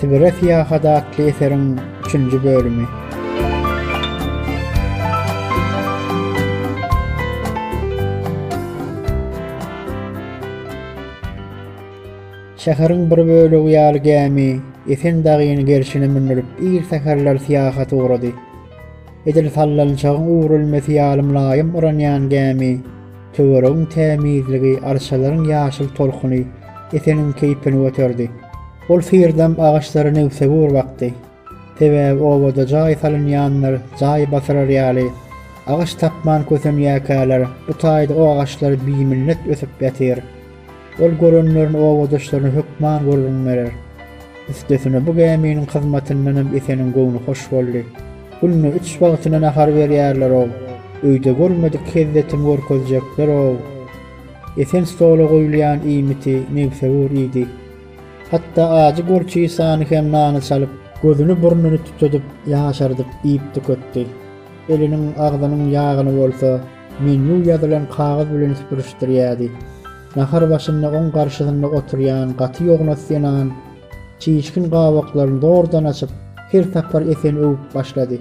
Sibire syýahat atly eseriň üçünji bölümi. Şäheriň bir bölegi ýaly gämi Esen dagyň gerşine mündürip ir säherler syýahata ugrady. Edil sallançagyň üwrülmesi ýaly mylaýym yranýan gämi, töweregiň tämizligi, arçalaryň ýaşyl tolkuny Eseniň keýpini göterdi. Ol syrdam agaçlary nebsewür bakdy. Sebäbi obada jaý salynýanlar jaý basyrar ýaly, agaç tapman kösenýäkäler, bu taýda o agaçlar biminnetl ösüp ýatyr. Ol görenlerini obadaşlaryna hökman gürrüň berer. Üstesine bu gäminiň hyzmatyndanam Eseniň göwni hoş boldy. Günde üç wagtyna nahar berýärler-ow. Öýde görmedik hezzetimi görkezjekler-ow. Esen stola goýulýan iýmiti nebsewür iýdi. Hatda ajy gorçisany hem nana çalyp, gözüni-burnuny tutudyp ýaşardyp iýip-tüketdi. Eliniň, agzynyň ýagyny bolsa, Menýu ýazylan kagyz bilen süpürişdirýärdi. Nahar başynda oň garşysynda oturýan gaty ýognas zenan çişkin gabaklaryny zordan açyp, her sapar Eseni öwüp başlady.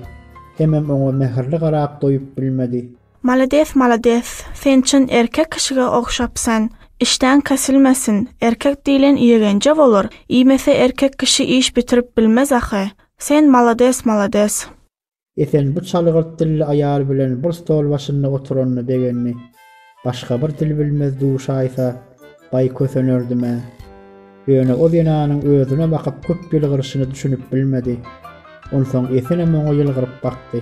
Hemem oňa mähirli garap doýup bilmedi. Malades malades, sen çyn erkek kişige ogşapsyn. Işdäň kesilmesin, erkek diýlen ýegenje bolar, iýmese erkek kişi iş bitirip bilmez ahy. Sen malades malades. Esen bu çalgyrt dilli aýal bilen bir stol başynda oturanyna begendi. Başga bir dil bilmez duşaýsa, baý kösenerdim-ä. Ýöne o zenanyň özüne bakyp köp ýylgyryşyna düşünip bilmedi. Onsoň Esenem oňa ýylgyryp bakdy.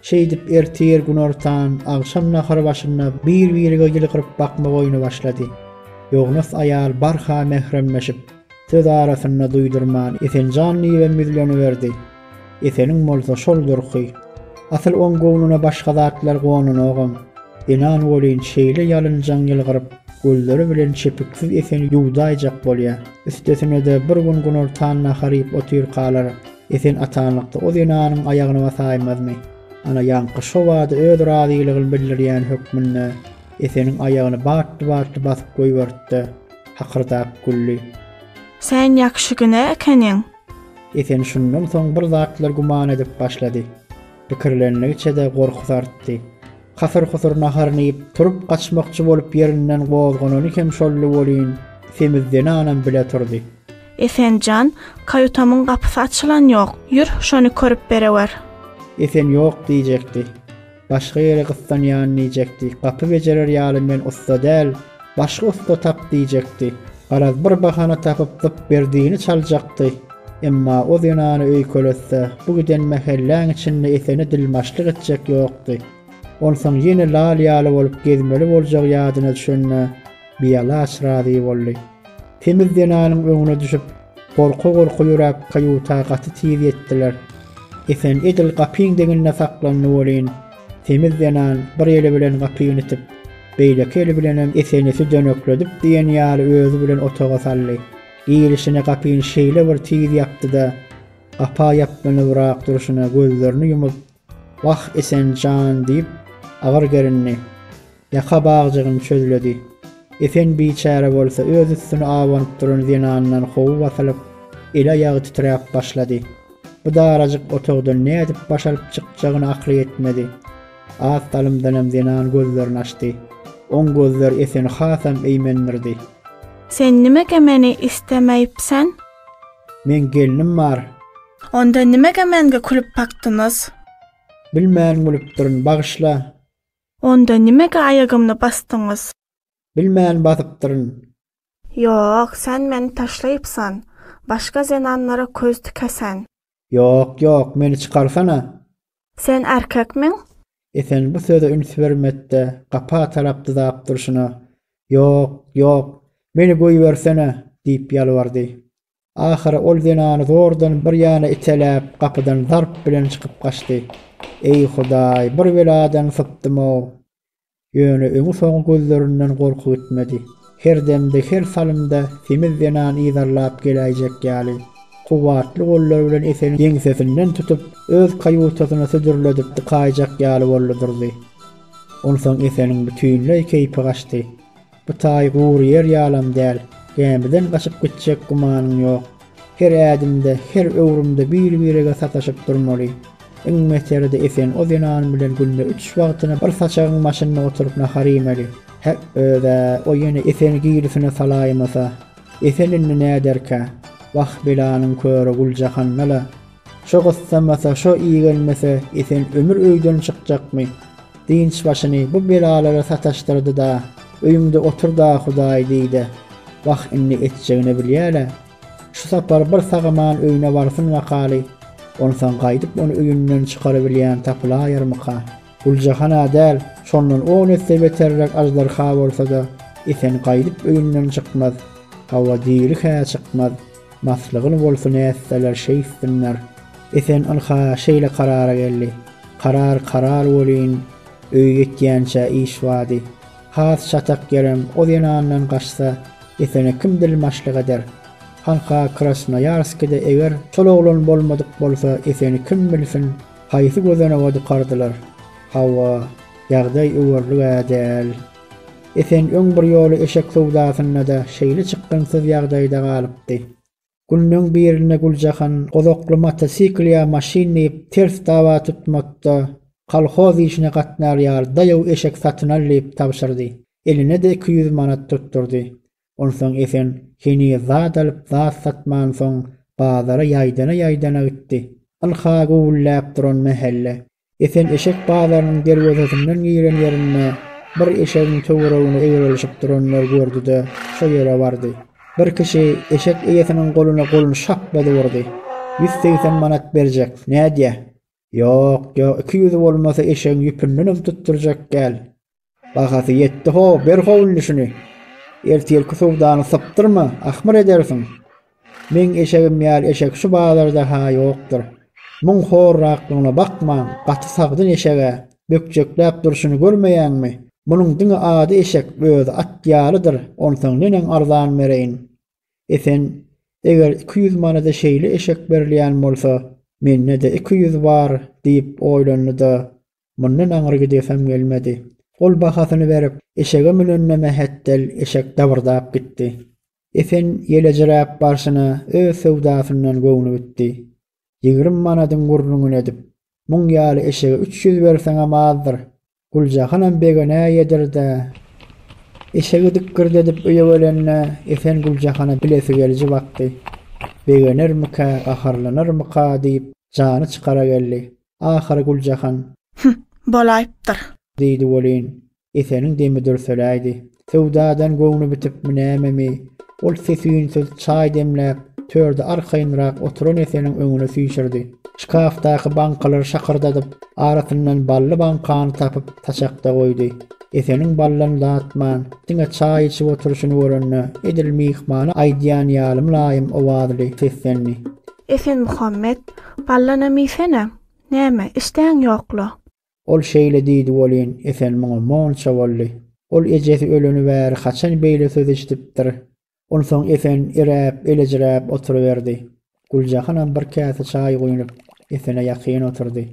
Şeýdip ertir günortan, agşam nahar başynda bir-birige ýylgyryp bakmak oýny başlady. Ýognas aýal barha mähremleşip, söz arasynda duýdurman Esenjan diýibem ýüzleniberdi. Eseniň bolsa şol durky. Asyl oň göwnüne başga zatlar gonanogam. Enan welin şeýle ýalynjaň ýylgyryp, gözleri bilen çepiksiz Eseni ýuwdaýjak bolýar. Üstesine-de bir gün günortan nahar iýip otyrkalar Esen atanlykda o zenanyň aýagyny basaýmazmy? Ana ýaňky şo bada öz razylygyny bildirýän hökmünde Eseniň aýagyny batly-batly basyp goýberdi-de, hakyrdap güldi. Sen ýagşy günä ekeniň. Esen şundan soň bir zatlar güman edip başlady. Pikirlendigiçe-de gorkusy artdy. Hasyr-husur naharyny iýip, turup gaçmakçy bolup ýerinden gozganany hem şoldy welin, semiz zenanam bile turdy. Esen jan, kaýutamyň gapysy açylan ýok. Ýür, şony körüp berewer. Esen ýok diýjekdi. Başga ýere gyssanýan diýjekdi. Gapy bejerer ýaly men ussa däl, başga ussa tap diýjekdi. Garaz, bir bahana tapyp zyp Berdini çaljakdy. Emma o zenany öýkeletse, bu giden mähelläň içinde Esene dilmaçlyk etjek ýokdy. Onsoň ýene lal ýaly bolup gezmeli boljagy ýadyna düşende, bialaç razy boldy. Semiz zenanyň öňüne düşüp, Gorka-gorka ýöräp kaýuta gaty tiz ýetdiler. Esen edil gapyň deňinde saklandy welin, semiz zenan bir eli bilen gapyny itip, beýleki eli bilenem Eseni südenekledip diýen ýaly özi bilen otaga saldy. Girişine gapyny şeýle bir tiz ýapdy-da, gapa ýaplanybrak durşuna gözlerini ýumup, Wah, Esen jan, diýip, agyr gerindi. Ýaka bagjygyny çözledi. Esen biçäre bolsa öz üstüne abanyp duran zenandan gowy basylyp, eli-aýagy titräp başlady. Bu darajyk otagdan nädip baş alyp çykjagyna akly ýetmedi. Az salymdanam zenan gözlerini açdy. Oň gözleri Eseni hasam eýmendirdi. Sen nimäge meni islemeýipsen? Meň gelnim bar. Onda nimege menge kulüp bakdynyz. Bilmän gülüpdirin bagyşla. Onda nimege aýagymny basdyňyz. Bilmän basypdyryn. Ýok sen meni taşlaýypsan. Başga zenanlara köz tikesen. Ýok ýok meni çykarsana. Sen erkekmiň? Esen bu söze üns bermedde gapa tarap dyzap durşuna Ýok ýok meni goýbersene diýip ýalbardy. Ahyry ol zenany zordan bir ýana iteläp, gapydan zarp bilen çykyp gaçdy. Eý, Hudaý, bir beladan sypdym-ow! Ýöne öňi-soňy gözlerinden gorky gitmedi. Her demde, her salymda semiz zenan yzarlap geläýjek ýaly, kuwwatly gollary bilen Eseniň ýeňsesinden tutup, öz kaýutasyna südürledip dykaýjak ýaly boldy durdy. Onsoň Eseniň bütinleý keýpi gaçdy. Bu taý gury ýer ýalam däl, gämiden gaçyp gitjek gümanyň ýok. Her ädimde, her öwrümde bir-birege sataşyp durmaly. Iň beteri-de Esen o zenan bilen günde üç wagtyna bir saçagyň başynda oturyp nahar iýmeli. Häk, öz-ä, o ýene Eseni gilisine salaýmasa? Esen indi näderkä? Wah, belanyň köri Güljahanna-la Şo gyssamasa, şo igenmese, Esen ömür öýden çykjakmy? Dynç başyny bu belalara sataşdyrdy-da, Öýüňde otur-da Hudaýy diý-de. Wah, indi etjegini bilýär-ä. Şu sapar bir sag-aman öýüne barsyn wakaly, onsoň gaýdyp ony öýünden çykarybilýän tapylaýarmyka? Güljahan-a däl, şondan on esse beterräk aždarha bolsa-da, Esen gaýdyp öýünden çykmaz. Hawa, diri-hä çykmaz. Maslygyn bolsun ätseler şeýtsinler. Esen ynha şeýle karara geldi. Karar karar welin, öýe ýetýänçä iş bady. Has çatak ýerem o zenandan gaçsa, Esene kim dilmaçlyk eder? Hanha Krasnoýarskide eger şol oglan bolmadyk bolsa, Eseni kim bilsin, haýsy gözanoga dykardylar? Hawa, ýagdaý öwerlik-ä däl. Esen öň bir ýoly eşek söwdasynda-da şeýle çykgynsyz ýagdaýda galypdy. Günleň birinde Güljahan gozakly motosikl ýa maşyn diýip ters dawa tutmakda kolhoz işine gatnar ýaly daýaw eşek satyn al diýip tabşyrdy. Eline-de iki ýüz manat tutdurdy. Onsoň Esen heniz zat alyp zat satmansoň bazara ýaýdana-ýaýdana gitdi. Ynha güwwülläp duran mähelle. Esen eşek bazarynyň derwezesinden giren ýerinde bir eşegiň töweregine eýerelişip duranlary gördi-de, şo ýere bardy. Bir kişi eşek eýesiniň goluna goluny şaplady urdy. Ýüz segsen manat berjek, nädýä? Ýok, ýok, iki ýüzi bolmasa eşegiň ýüpündenem tutdurjak däl. Bahasy ýetdi-ho, ber ho indi şuny. Ertirki sowdany sypdyrma, ahmyr edersiň. Meň eşegim ýaly eşek şu bazarda-ha ýokdur. Muň horraklygyna bakmaň, gaty sagdyn eşeg-ä. Bökjekläp durşuny görmeýäňmi? Munuň diňe ady eşek, özi at ýalydyr. Onsoň neneň arzan bereýin. Esen, eger iki ýüz manada şeýle eşek berilýän bolsa, mende-de iki ýüz bar, diýip oýlandy-da, Mundan aňry gidesim gelmedi. Ol bahasyny berip, eşege münende mähetdel eşek dabyrdap gitdi. Esen ýelejiräp barşyna öz söwdasyndan göwni gitdi. Ýigrimi manadyň gürrüňini edip, Muň ýaly eşege üç ýüz berseňem azdyr. Güljahanam begene ýedir-dä. Eşegi dikgirdedip öýe gelende Esen Güljahana bilesi geliji bakdy. Begenermikä, gaharlanarmyka diýip, jany çykara geldi. Ahyry Güljahan. Hüh, bolaýypdyr. Diýdi welin, Eseniň demi dürseläýdi. Söwdadan göwni bitipmi nämemi, ol ses-üýnsüz çaý demläp, törde arkaýynrak oturan Eseniň öňüne süýşürdi. Şkafdaky baňkalary şakyrdadyp, arasyndan bally baňkany tapyp, saçakda goýdy. Eseniň baldan datman, diňe çaý içip oturyşyny görende, edil myhmana aýdýan ýaly mylaýym owazly seslendi. Esenmuhammet, Ballanam iýsene. Näme, işdäň ýok-la? Ol şeýle diýdi welin, Esen muňa monça boldy. Ol ejesi öleni bäri haçan beýle söz eşidipdir? Onsoň Esen iräp, elejräp oturyberdi. Güljahanam bir käse çaý guýnup, Esene ýakyn oturdy.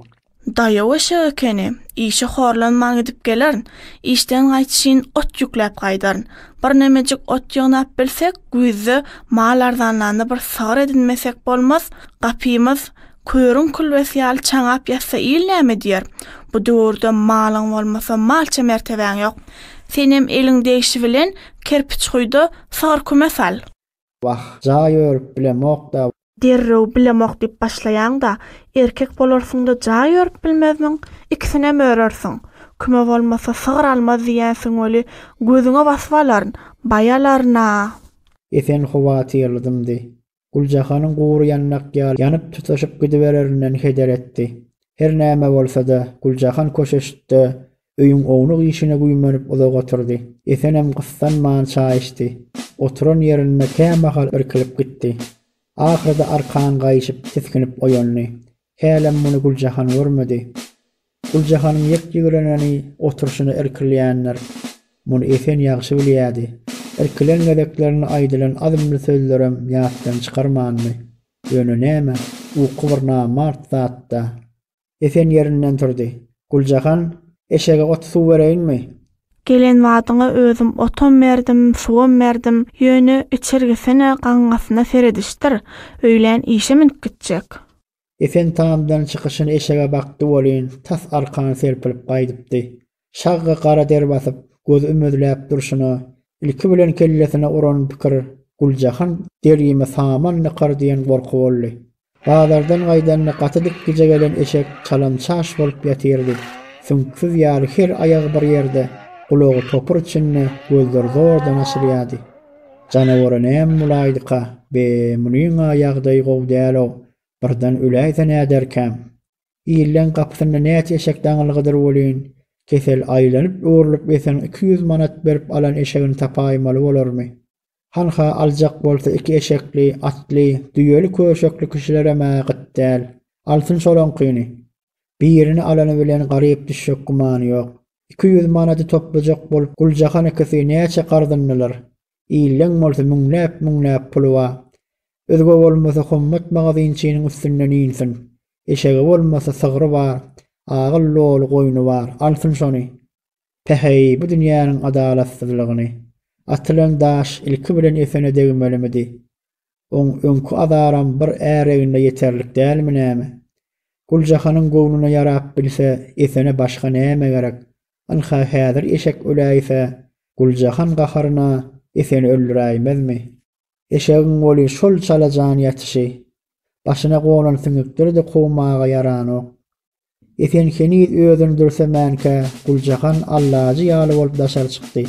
Daýaw eşek ekeni, işe horlanman gidip gelerin, işden gaýtyşyn ot ýükläp gaýdaryn. Birnemejik ot ýygnap bilsek, güýzde mal arzanlanda bir sygyr edinmesek bolmaz, gapymyz körüň külbesi ýaly çaňap ýatsa il näme diýer? Bu döwürde malyň bolmasa malça mertebäň ýok. Senem eliň degşi bilen Kerpiçguýda sygyr küme sal. Wah, jaý örüp bilemok-da. Derrew bilemok diýip başlaýaň-da, erkek bolarsyň-da jaý örüp bilmezmiň? Ikisinem örersiň. Küme bolmasa, sygyr almaz diýýänsiň weli, gözüňe basyp alaryn, baý alaryn-a! Esen howatyrly dymdy. Güljahanyň gury ýandak ýaly ýanyp-tutaşyp gidibererinden heder etdi. Her näme bolsa-da, Güljahan köşeştde öýüň ownuk işine güýmenip uzak oturdy. Esenem gyssanman çaý içdi. Oturan ýerinde kämahal irkilip gitdi. Ahyrda arkan gaýşyp, tisginip oýandy. Hälem muny Güljahan görmedi. Güljahanyň ýek-ýigreneni oturşyna irkilýändir. Muny Esen ýagşy bilýärdi. Irkilen gezeklerinde aýdylan az-mz sözlerem ýatdan çykarmandy. Ýöne näme, uky bir namart zat-da. Esen ýerinden turdy. Guljahan, eşege ot-suw bereýinmi? Gelen badyňa özüm otam berdim, suwam berdim. Ýöne içirgisine, gaňňasyna seredişdir. Öýlän işe münüp gitjek. Esen tamdan çykyşyny eşege bakdy welin, tas arkany serpilip gaýdypdy. Şagga gara der basyp, göz ümezläp durşuna, ilki bilen kellesine uran pikir Guljahan derimi saman nykar diýen gorky boldy. Bazardan gaýdanda gaty dik gije gelen eşek çalam-çaş bolup ýatyrdy. Süňksüz ýaly her aýagy bir ýerde, gulagy topur içinde, gözleri zordan açylýardy. Janawara näme bolaýdyka, be, munyň-a ýagdaýy gowy däl-ow, birden öläýse näderkäm? Illeň gapysynda näçe eşek daňylgydyr welin, kesel aýlanyp-öwrülip ýeten iki ýüz manat berip alan eşegini tapaýmaly bolarmy? Hanha aljak bolsa iki eşekli, atly, düýeli köşekli kişilerem-ä gyt däl. Alsyn şolaňkyny. Birini alany bilen garyp düşjek gümany ýok. Iki ýüz manady toplajak bolup Guljahan ikisi näçe garzyndylar. Illeň bolsa müňläp-müňläp puly bar. Özge bolmasa Hommat magazynçynyň üstünden insin. Eşegi bolmasa sygry bar, agyl doly goýny bar, alsyn şony. Päheý, bu dünýäniň adalatsyzlygyny! Atylan daş ilki bilen esene degmelimidi? Oň öňki azaram bir är egnine ýeterlik dälmi näme? Guljahanyň göwnüne ýarap bilse, esene başga näme gerek? Ynha, häzir eşek öläýse, Guljahan gaharyna Eseni öldüräýmezmi? Eşegiň weli şol çala jan ýatyşy. Başyna gonan siňekleri-de kowmaga ýaranok. Esen heniz özüni dürsemänkä, Guljahan allajy ýaly bolup daşary çykdy.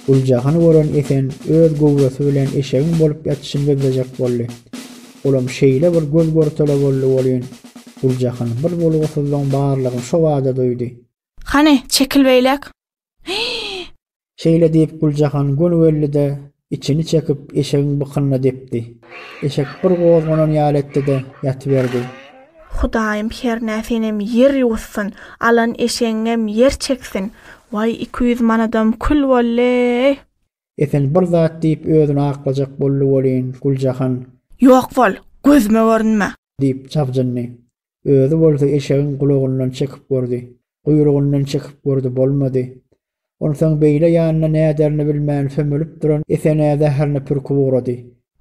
Guljahany gören Esen öz göwresi bilen eşegiň bolup ýatyşyny gözlejek boldy. Olam şeýle bir göz-görtele boldy welin, Guljahan bir bolgusyzlygyň barlygyny şobada duýdy. Hany, çekil beýläk! Hyý! Şeýle diýip, Güljahan gönügeldi-de, içini çekip, eşegiň bykynyna depdi. Eşek bir gozganan ýaly etdi-de, ýatyberdi. Hudaýym hernä senem ýer ýuwsyn, alan eşegiňem ýer çeksin! Waý, iki ýüz manadam kül boldy-eý! Esen bir zat diýip, özüni aklajak boldy welin, Güljahan. Ýok bol, gözüme görünme! Diýip, jabjyndy. Özi bolsa eşegiň gulagyndan çekip gördi. Guýrugyndan çekip gördi, bolmady. Onsoň beýle ýanyna näderini bilmän sömelip duran Esenä zäherini pürküp ugrady.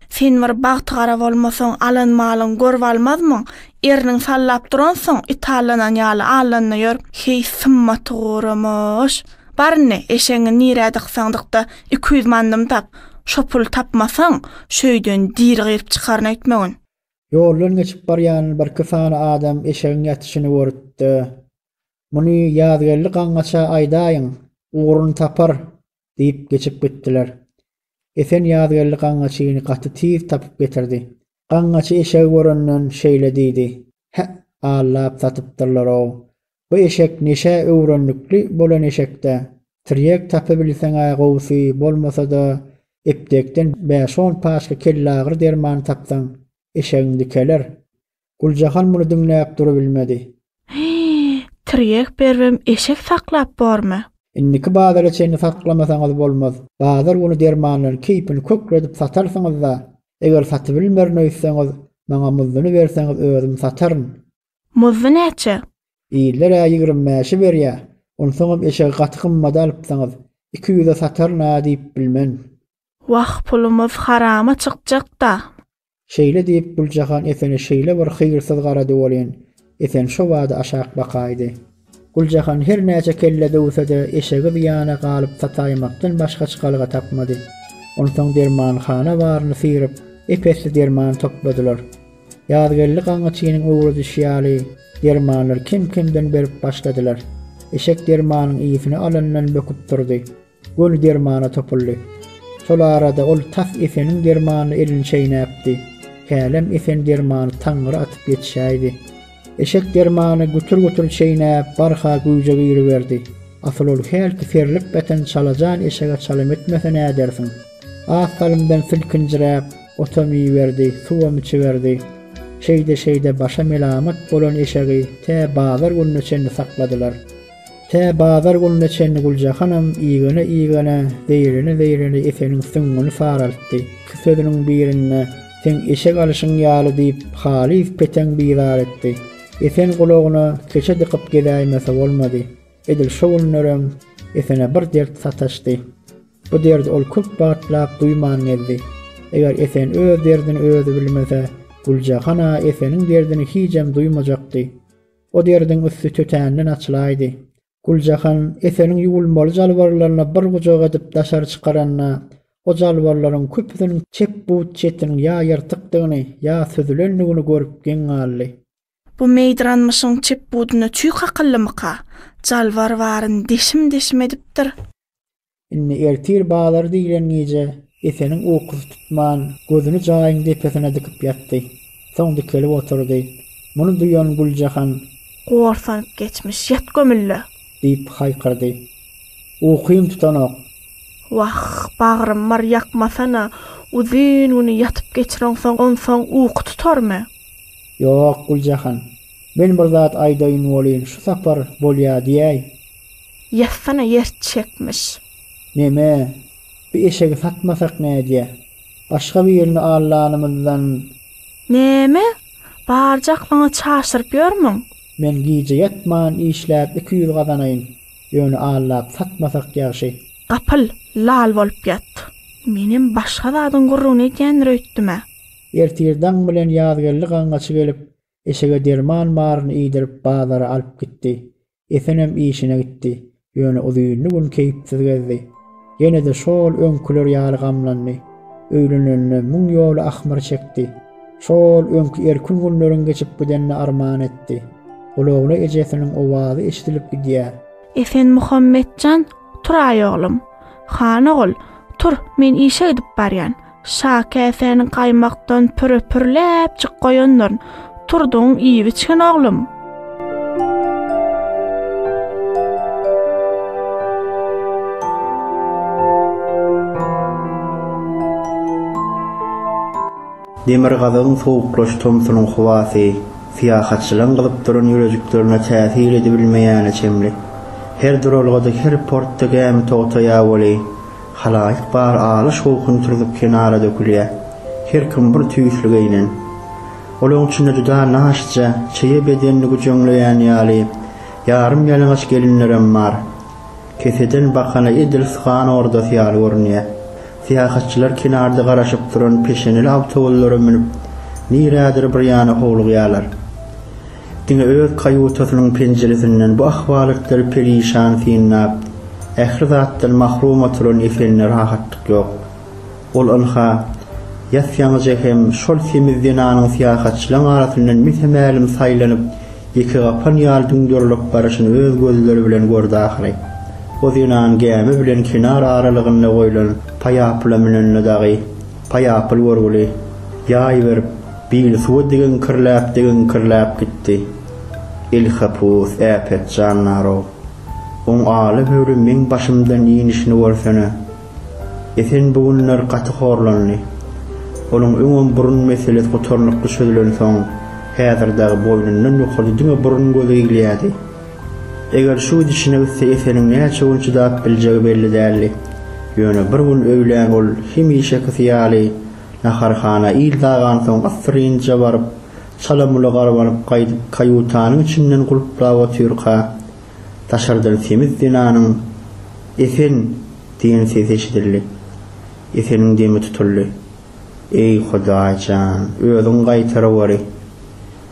Sen bir bagtygara bolmasaň, alan malyňy görüp almazmyň? Erniň sallap duransoň, it allanan ýaly allanda ýör. Heý, symmaty guramyş! Bar indi, eşegiňi nirä dyksaň dykda, iki ýüz mannymyny tap. Şo puly tapmasaň, şu öýden diri gyryp çykaryn öýtmegin. Ýoldan geçip barýan birki sany adam eşegiň ýatyşyny görüp-de, Muny Ýazgeldi gaňňaça aýdaýyň, ugruny tapar diýip geçip gitdiler. Esen Ýazgeldi gaňňaçyny gaty tiz tapyp getirdi. Gaňňaçy eşegi görenden şeýle diýdi, Hä, allap satypdyrlar-ow, Bu eşek neşä öwrendikli bolan eşekdä. Tirýek tapybilseň-ä gowusy, bolmasa-da, epdekden bäş-on paçka kellagyry dermany tapsaň, eşegiň dikeler. Guljahan muny diňläp durubilmedi. Hyý, tirýek beribem eşek saklap bormy? Indiki bazara çenli saklamasaňyz bolmaz. Bazar güni dermanlaryň keýpini kökredip satarsyňyz-da. Eger satybilmerin öýtseňiz, maňa muzduny berseňiz özüm sataryn. Muzdy näçe? Diýdiler-ä ýigrimi bäşe berýä. Onsoňam eşegi gaty gymmada alypsyňyz. Iki ýüze sataryn-a diýip bilmen. Wah, pulumyz harama çykjak-da. Şeýle diýip, Güljahan Esene şeýle bir hyýrsyz garady welin, Esen şobada aşak bakaýdy. Güljahan her näçe kelle döwse-de, eşegi zyýana galyp sataýmakdan başga çykalga tapmady. Onsoň dermanhana baryny syryp, ep-esli derman topladylar. Ýazgeldi gaňňyçynyň öwredişi ýaly, dermanlary kem-kemden berip başladylar. Eşek dermanyň ysy-ny alandan böküp durdy. Göni dermana topuldy. Şol arada ol tas Eseniň dermanyna elini çeýnäpdi. Hälem Esen dermany taňňyra atyp ýetişäýdi. Eşek dermany gütür-gütür çeýnäp, barha güýje giriberdi. Asyl ol hälki serlip ýatan çalajan eşege çalym etmese nädersiň? Az salymdan silkinjiräp, otam iýiberdi, suwam içiberdi. Şeýde-şeýde başa melamat bolan eşegi tä bazar gününe çenli sakladylar. Tä bazar gününe çenli Güljahanyň igene-igene, zeýrene-zeýrene Eseniň süňňüni saraltdy. Iki sözüniň birinde Seň eşek alyşyň ýaly diýip, halys peteň bizar etdi. Esen gulagyna keçe dykyp gezäýmese bolmady. Edil şo günlerem Esene bir dert sataşdy. Bu derdi ol köp wagtlap duýman gezdi. Eger Esen öz derdini özi bilmese, Güljahan-a Eseniň derdini hijem duýmajakdy. O derdiň üsti tötänden açylaýdy. Güljahan Eseliň ýuwulmaly jalbarlaryny bir gujak edip daşary çykaranda, o jalbarlaryň köpüsiniň çep but çetiniň ýa ýyrtykdygyny, ýa süzülendigini görüp geň galdy. Bu meýdranmyşyň çep budunda çüý kakyldymyka? Jalbar baryn deşim-deşim edipdir. Indi ertir bazar diýlen gije Eseniň ukusy tutman, gözüni jaýyň depesine dikip ýatdy. Soň dikelip oturdy. Muny duýan Güljahan. Gorsanyp geçmiş, ýat gömülle! Diýip haýkyrdy. Ukym tutanok. Wah, bagrym bar, ýakmasana! Uzyn güni ýatyp geçireňsoň, onsoň uky tutarmy? Ýok, Güljahan. Men bir zat aýdaýyn welin, şu sapar bolýa diýäý. Ýassana ýer çekmiş. Neme, bi eşegi satmasak nädýä? Başga birini allanymyzdan. Neme, barjak maňa çaşdyryp ýörmüň? Men gije ýatman işläp iki ýüz gazanaýyn. Ýöne allap satmasak ýagşy. Gapyl, lal bolup ýat. Menem başga zadyň gürrüňini edýändir öýtdüm-ä. Ertir daň bilen Ýazgeldi gaňňaçy gelip, eşege derman maryny iýdirip, bazara alyp gitdi. Esenem işine gitdi. Ýöne uzynly gün keýpsiz gezdi. Ýene-de şol öňküler ýaly gamlandy. Öýlenenine müň ýola ahmyr çekdi. Şol öňki erkin günleriň geçip gidenine arman etdi. Gulagyna ejesiniň owazy eşidilip gidýär. Esenmuhammet jan, tur-aý oglum. Han ogul, tur, men işe gidip barýan. Şa käsäni gaýmakdan püre-pürläpjik goýandyr. Turdyň iýip-içgin, oglum. Demirgazygyň sowuklaş tomsunyň howasy syýahatçylaryň gyzyp duran ýürejiklerine täsir edibilmeýäne çenli. Her duralgada, her portda gämi togtaýa weli, Halaýyk bar aly şowhuny turzup kenara dökülýär. Her kim bir tüýsli geýnen. Olaryň içinde juda naşyja, çeýe bedenini güjeňleýän ýaly, ýarym ýalaňaç gelinlerem bar. Keseden bakana edil sygan ordasy ýaly görünýär. Syýahatçylar kenarda garaşyp duran peşeneli awtoullara münüp, nirädir bir ýana howlugýarlar. Diňe öz kaýutasynyň penjiresinden bu ahwalatlary perişan synlap, ähli zatdan mahrum oturan Efendä rahatlyk ýok. Ol ynha, ýatýaňyja hem şol semiz zenanyň syýahatçylaryň arasyndan mese-mälim saýlanyp, ýekegapan ýaly düňderilip baryşyny öz gözleri bilen gördi ahyry. O zenan gämi bilen kenar aralygynda goýlan paýapyla münende dagy, Paýapyl görgüli ýaý berip, bili suwa digeňkirläp-digeňkirläp gitdi. Elhapus, äpet jandar-ow! Oň aly-höwli meň başymdan inişini görsene! Esen bu günler gaty horlandy. Onuň öňem burun meselesi gutarnykly çözülensoň, häzir dagy boýnundan ýokarda diňe burun-göz eglýärdi. Eger şu gidişine gitse Eseniň näçe gün çydap biljegi belli däldi. Ýöne bir gün öýlän ol hemişekisi ýaly naharhana il dagansoň assyrynja baryp, çala-mula garbanyp gaýdyp kaýutanyň içinden gulplap otyrka, daşardan semiz zenanyň Esen! diýen sesi eşidildi. Eseniň demi tutuldy. Eý, Hudaý jan, özüň gaýtaryberi!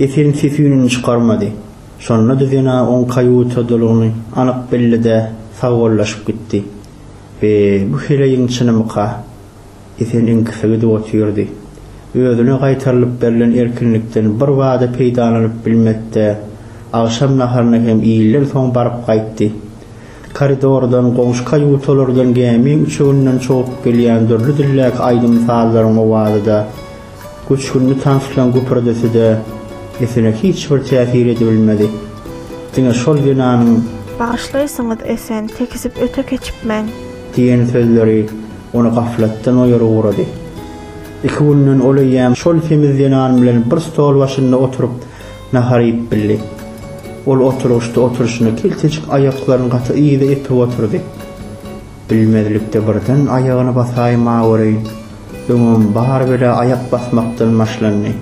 Eserin ses-üýnüni çykarmady. Şonda Düzena oň kaýutadalygyny anyk bildi-de, sagbollaşyp gitdi. Be, bu heleýiň çynymyka? Esen iňkise gidip otyrdy. Özüne gaýtarylyp berlen erkinlikden birbada peýdalanyp bilmedi-de, agşam naharyny hem iýlden soň baryp gaýtdy. Koridordan, goňşy kaýutalardan gämi üçeginden çogup gelýän dürli dildäki aýdym-sazlaryň owazy-da, Göçgünli tanslaň güpürdisi-de Esene hiç bir täsir edibilmedi. Diňe şol zenanyň. Bagyşlaýsyňyz, Esen, tekizip öte keçipmen. Diýen sözleri ony gaflatdan oýary ugrady. Iki günden ol eýýäm şol semiz zenan bilen bir stol başynda oturyp nahar iýip bildi. Ol oturgyçda oturşyna keltejik aýaklaryny gaty yza epip otyrdy. Bilmezlikde birden aýagyny basaýma göreýin. Öňem bar bela aýak basmakdan başlandy.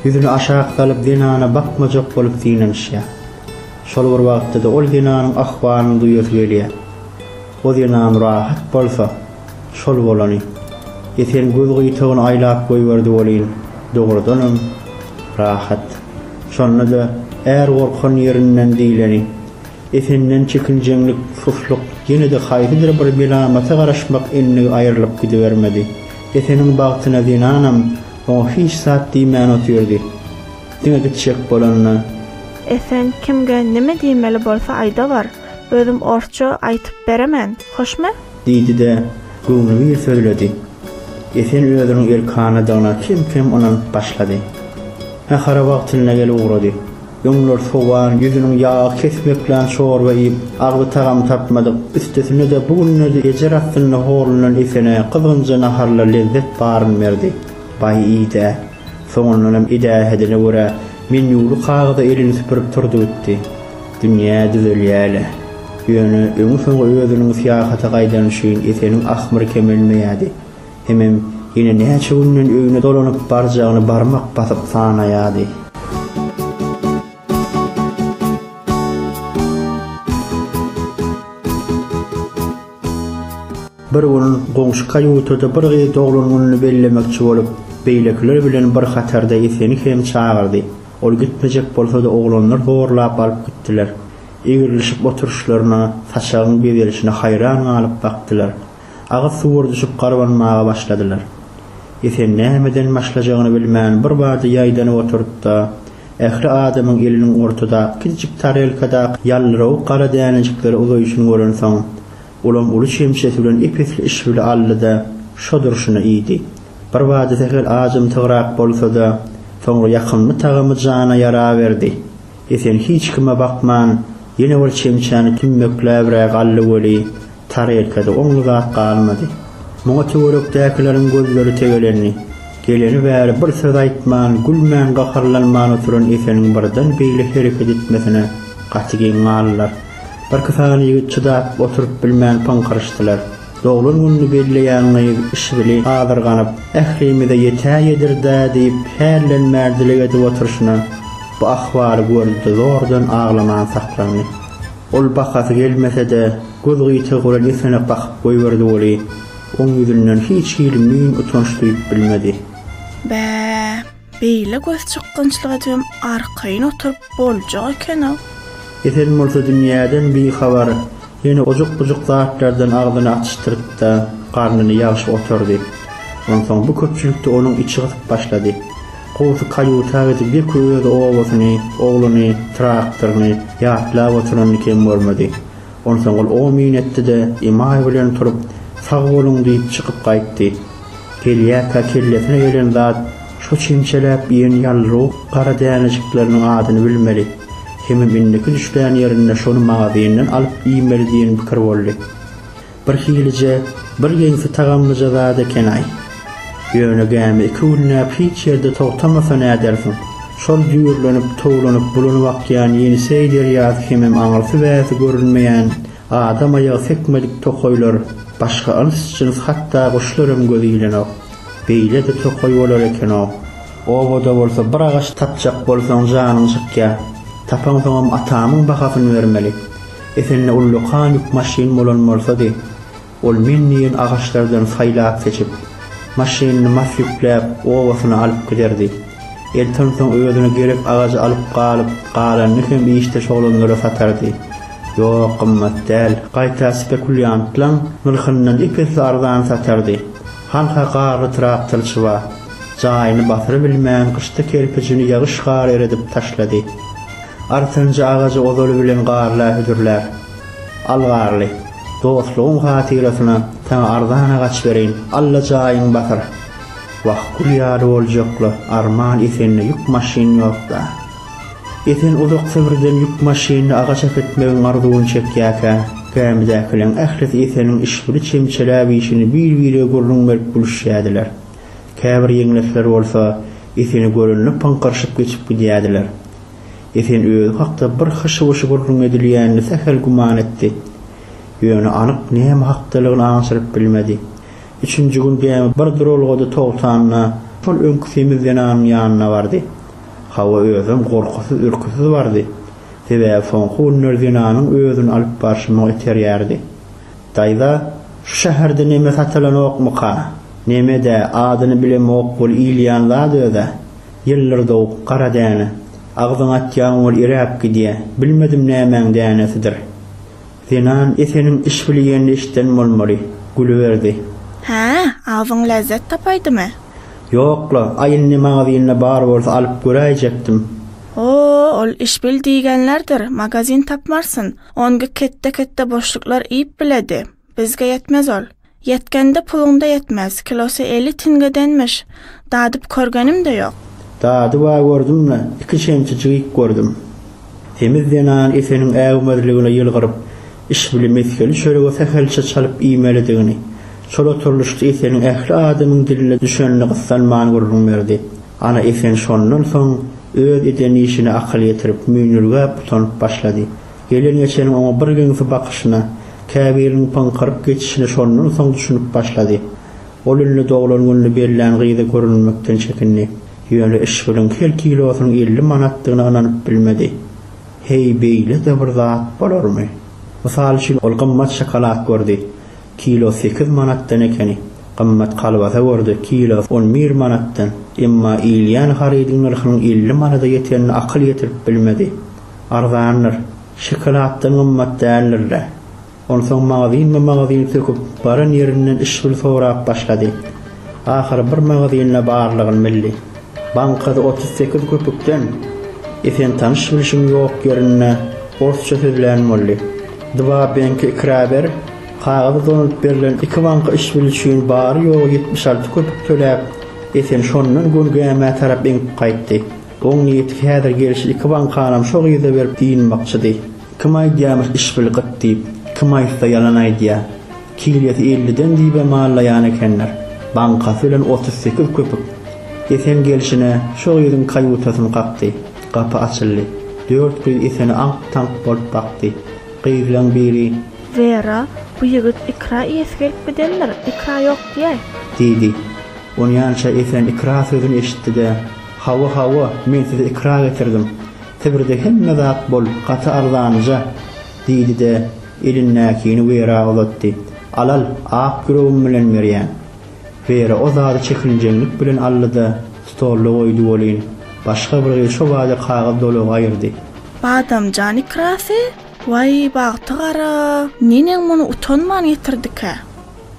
Ýüzüni aşak salyp zenana bakmajak bolup synanyşýar. Şol bir wagtda-da ol zenanyň ahwalyny duýasy gelýär. O zenan rahat bolsa, şol bolany. Esen göz gyýtagyny aýlap goýberdi welin, dogrudanam, rahat. Şonda-da är gorkan ýerinden diýleni. Esenden çekinjeňlik, suslyk, ýene-de haýsydyr bir melamata garaşmak indi aýrylyp gidibermedi. Eseniň bagtyna zenanam oňa hiç zat diýmän otyrdy. Diňe gitjek bolanda. Esen kimge näme diýmeli bolsa aýdawar, özüm orsça aýtyp beremen, hoşmy? Diýdi-de, göwnübir sözledi. Esen özüniň erkanadygyna kem-kem ynanyp başlady. Nahara wagtynda gel ugrady. Öňler sowan, ýüzüniň ýagy kesmeklän çorba iýip, agzy tagam tapmadyk, üstesine-de bu günlerde ejer astynda horlunan Esene gyzgynja naharlar lezzet baryn berdi. Baý idä. Soňundanam edähedine görä, menýuly kagyza elini süpürip turdy gitdi. Dünýä düzelýä-le. Ýöne öňi-soňy özüniň syýahata gaýdany üçin Eseniň ahmyry kemelmeýärdi. Hemem ýene näçe günden öýüne dolanyp barjagyny barmak basyp sanaýardy. Bir gün goňşy kaýutada bir gyz doglan gününi bellemekçi bolup, beýlekiler bilen bir hatarda Eseni hem çagyrdy. Ol gitmejek bolsa-da oglanlar zorlap alyp gitdiler. Egrilişip oturyşlaryna, saçagyň bezelişine haýran galyp bakdylar. Agyz suwur düşüp garbanmaga başladylar. Esen nämeden başlajagyny bilmän birbada ýaýdanyp oturyp-da, ähli adamyň eliniň ortadaky kiçijik tarelkadaky ýaldyrawuk gara dänejikleri uzaýşyny görensoň, ulam uly çemçesi bilen ep-esli işwili aldy-da, şo durşuna iýdi. Birbada sähel ajymtygrak bolsa-da, soňra ýakymly tagamy jana ýaraberdi. Esen hiç kime bakman, ýene bir çemçäni tümmekläbräk aldy weli, tarelkada oňly zat galmady. Muňa töwerekdäkileriň gözleri tegelendi. Geleni bäri bir söz aýtman, gülmän, gaharlanman oturan Eseniň birden beýle hereket etmesine gaty geň galdylar. Birki sany ýigit çydap oturyp bilmän pyňkyryşdylar. Doglan gününi belleýän gyz yşbili azyrganyp, Ählimize ýetäýedir-dä diýip hällenmän dileg edip oturyşyna, bu ahwaly gördi-de zordan aglaman saklandy. Ol bakasy gelmese-de, göz gyýtagy bilen ýesene bakyp goýberdi weli, oň ýüzünden hiç hili müýn utanç duýup bilmedi. Bä! Beýle gözçykgynçlyga jem arkaýyn oturyp boljak eken-ow. Esen bolsa dünýäden bihabar, ýene ojuk-bujuk zatlardan agzyny atyşdyryp-da, garnyny ýagşyp oturdy. Onsoň bu köpçülikde onuň içi gysyp başlady. Gowusy kaýuta gidip ýeke özi obasyny, ogluny, traktoryny ýatlap oturanyny kem görmedi. Onsoň ol o-myn etdi-de, emaý bilen turup, Sag boluň diýip, çykyp gaýtdy. Gelýärkä kellesine gelen zat şo çemçeläp iýen ýalrowuk gara dänejikleriniň adyny bilmeli, hemem indiki düşlän ýerinde şony magazyndan alyp iýmeli diýen pikir boldy. Birhilije, bir ýeňsi tagamlyja zat eken-aý. Ýöne gämi iki günläp hiç ýerde togtamasa nädersiň? Şol jüýrlenip, towlanyp, bulanyp akýan Ýeniseý derýasy hemem aňyrsy-bärsi görünmeýän, adam aýagy sekmedik tokaýlar, başga yls-jyns hatda guşlaram göze ilenok. Beýle-de tokaý bolar eken-ow. Obada bolsa bir agaç tapjak bolsaň janyň çykýar. Tapaňsoňam atamyň bahasyny bermeli. Esende ullakan ýük maşyn bolan bolsady, ol men diýen agaçlardan saýlap-seçip, maşynyny mas ýükläp, obasyna alyp giderdi. Elton soň özüne gerek agajy alyp galyp, galanyny hem işdeş oglanlara satardy. Ýok, gymmat däl, gaýta spekulýantlaň nyrhyndan ep-esli arzan satardy. Han-ha garry traktorçy bar. Jaýyny basyrybilmän, gyşda kerpijini ýagyş-gar eredip taşlady. Artynja agajy ozaly bilen garla hüdürläp, Al garly, dostlugyň hatyrasyna saňa arzan agaç bereýin, alla jaýyň batyr. Wah, gül ýaly boljakly arman Esende ýük maşyn ýok-da. Esen uzak Sibrden ýük maşynly agaç äkitmegiň arzuwyny çekýärkä, gämidäkileň ählisi Eseniň işbüli çemçeläp işini bir-birege gürrüň berip gülüşýärdiler. Käbir ýeňlekler bolsa Eseni görende pyňkyryşyp geçip gidýärdiler. Esen özi hakda bir hyşy-wyşy gürrüň edilýänini sähel güman etdi. Ýöne anyk näme hakdalygyny aňşyryp bilmedi. Üçünji gün gämi bir duralgada togtanda, şol öňki semiz zenanyň ýanyna bardy. Hawa, özem gorkusyz-ürküsiz bardy. Sebäbi soňky günler zenanyň özüni alyp barşy muňa iterýärdi. Daýza, şu şäherde neme satylanokmyka? Neme-dä, adyny bilemok bol iýilýän zat öz-ä. Ýyldyr dowuk, gara däne. Agzyňa atýaň ol iräp gidýä. Bilmedim nämäň dänesidir. Zenan Eseniň iş bilýenini eşiden bolmaly. Gülüberdi. Hä, agzyň lezzet tapaýdymy? Ýok-la, a indi magazinda bar bolsa alyp göräýjekdim. O-o, ol iş bil diýgenlerdir, magazin tapmarsyn. Ongik ketde-ketde boşluklar iýip biledi. Bizge ýetmez ol. Ýetgende puluňda ýetmez, kilosy elli tingedenmiş. Dadyp körgenimde ýok. Dadyba gördüm-de, iki çemçe jygyp gördüm. Semiz zenan Eseniň äwmezligine ýylgyryp, işbili mesgeli çöregi sähelçe çalyp iýmelidigini, şol oturylyşda Eseniň ähli adamyň diline düşenini gyssanman gürrüň berdi. Ana Esen şondan soň öz eden işine akyl ýetirip, müýnürgäp utanyp başlady. Gelen-geçeniň oňa bir geňsi bakyşyna, käbiriniň pyňkyryp geçişine şondan soň düşünip başlady. Ol indi doglan gününi bellän gyza görünmekden çekindi. Ýöne yşgynyň hil kilosynyň elli manatdygyna ynanyp bilmedi. Heý, beýle-de bir zat bolarmy? Mysal üçin, ol gymmat şokolad gördi, kilo sekiz manatdan ekeni. Gymmat kolbasa gördi, kilosy on bir manatdan. Emma iýilýän harydyň nyrhynyň elli manada ýetenine akyl ýetirip bilmedi. arzandyr. Şokoladdan gymmat däldir-le. Onsoň magazynma-magazyn söküp, baran ýerinden işgil sorap başlady. Ahyry bir magazynda barlygyny bildi. Bankasy otuz sekiz köpükden. Esen tanyş-bilşiň ýok ýerinde orsça sözlän boldy. Dwa benki ikraber, kagyzy dolanyp berlen iki banka işbil üçin bary-ýogy ýetmiş alty köpük töläp, Esen şondan Gönge-Ämä tarap eňip gaýtdy. Oň niýeti häzir gelşi iki bankanam şo gyza berip dynmakçydy. Kim aýdýamyş işbil gyt diýip, kim aýtsa ýalan aýdýa. Kilesi elliden diýibem mallaýan ekenler. Bankasy bilen otuz sekiz köpük. Esen gelşine şo gyzyň kaýutasyny kakdy. Gapy açyldy. Dört gyz Esene aňk-taňk bolup bakdy. Gyzlaň biri. Wera, bu ýigit ikra iýesi gelip gidendir, ikra ýok diýäý. Diýdi. Onýança Esen ikra sözüni eşitdi-de. Hawa hawa men size ikra getirdim. Sibirde hemme zat bol gaty arzanja, diýdi-de, elindäkini Wera uzatdy. Al al, ak ýüregim bilen berýän. Wera o zady çekinjeňlik bilen aldy-da, stolda goýdy welin, başga bir gyz şo bada kagyz dolagy aýyrdy. Badamjan ikrasy? Waý, bagty gara! Neneň muny utanman getirdikä?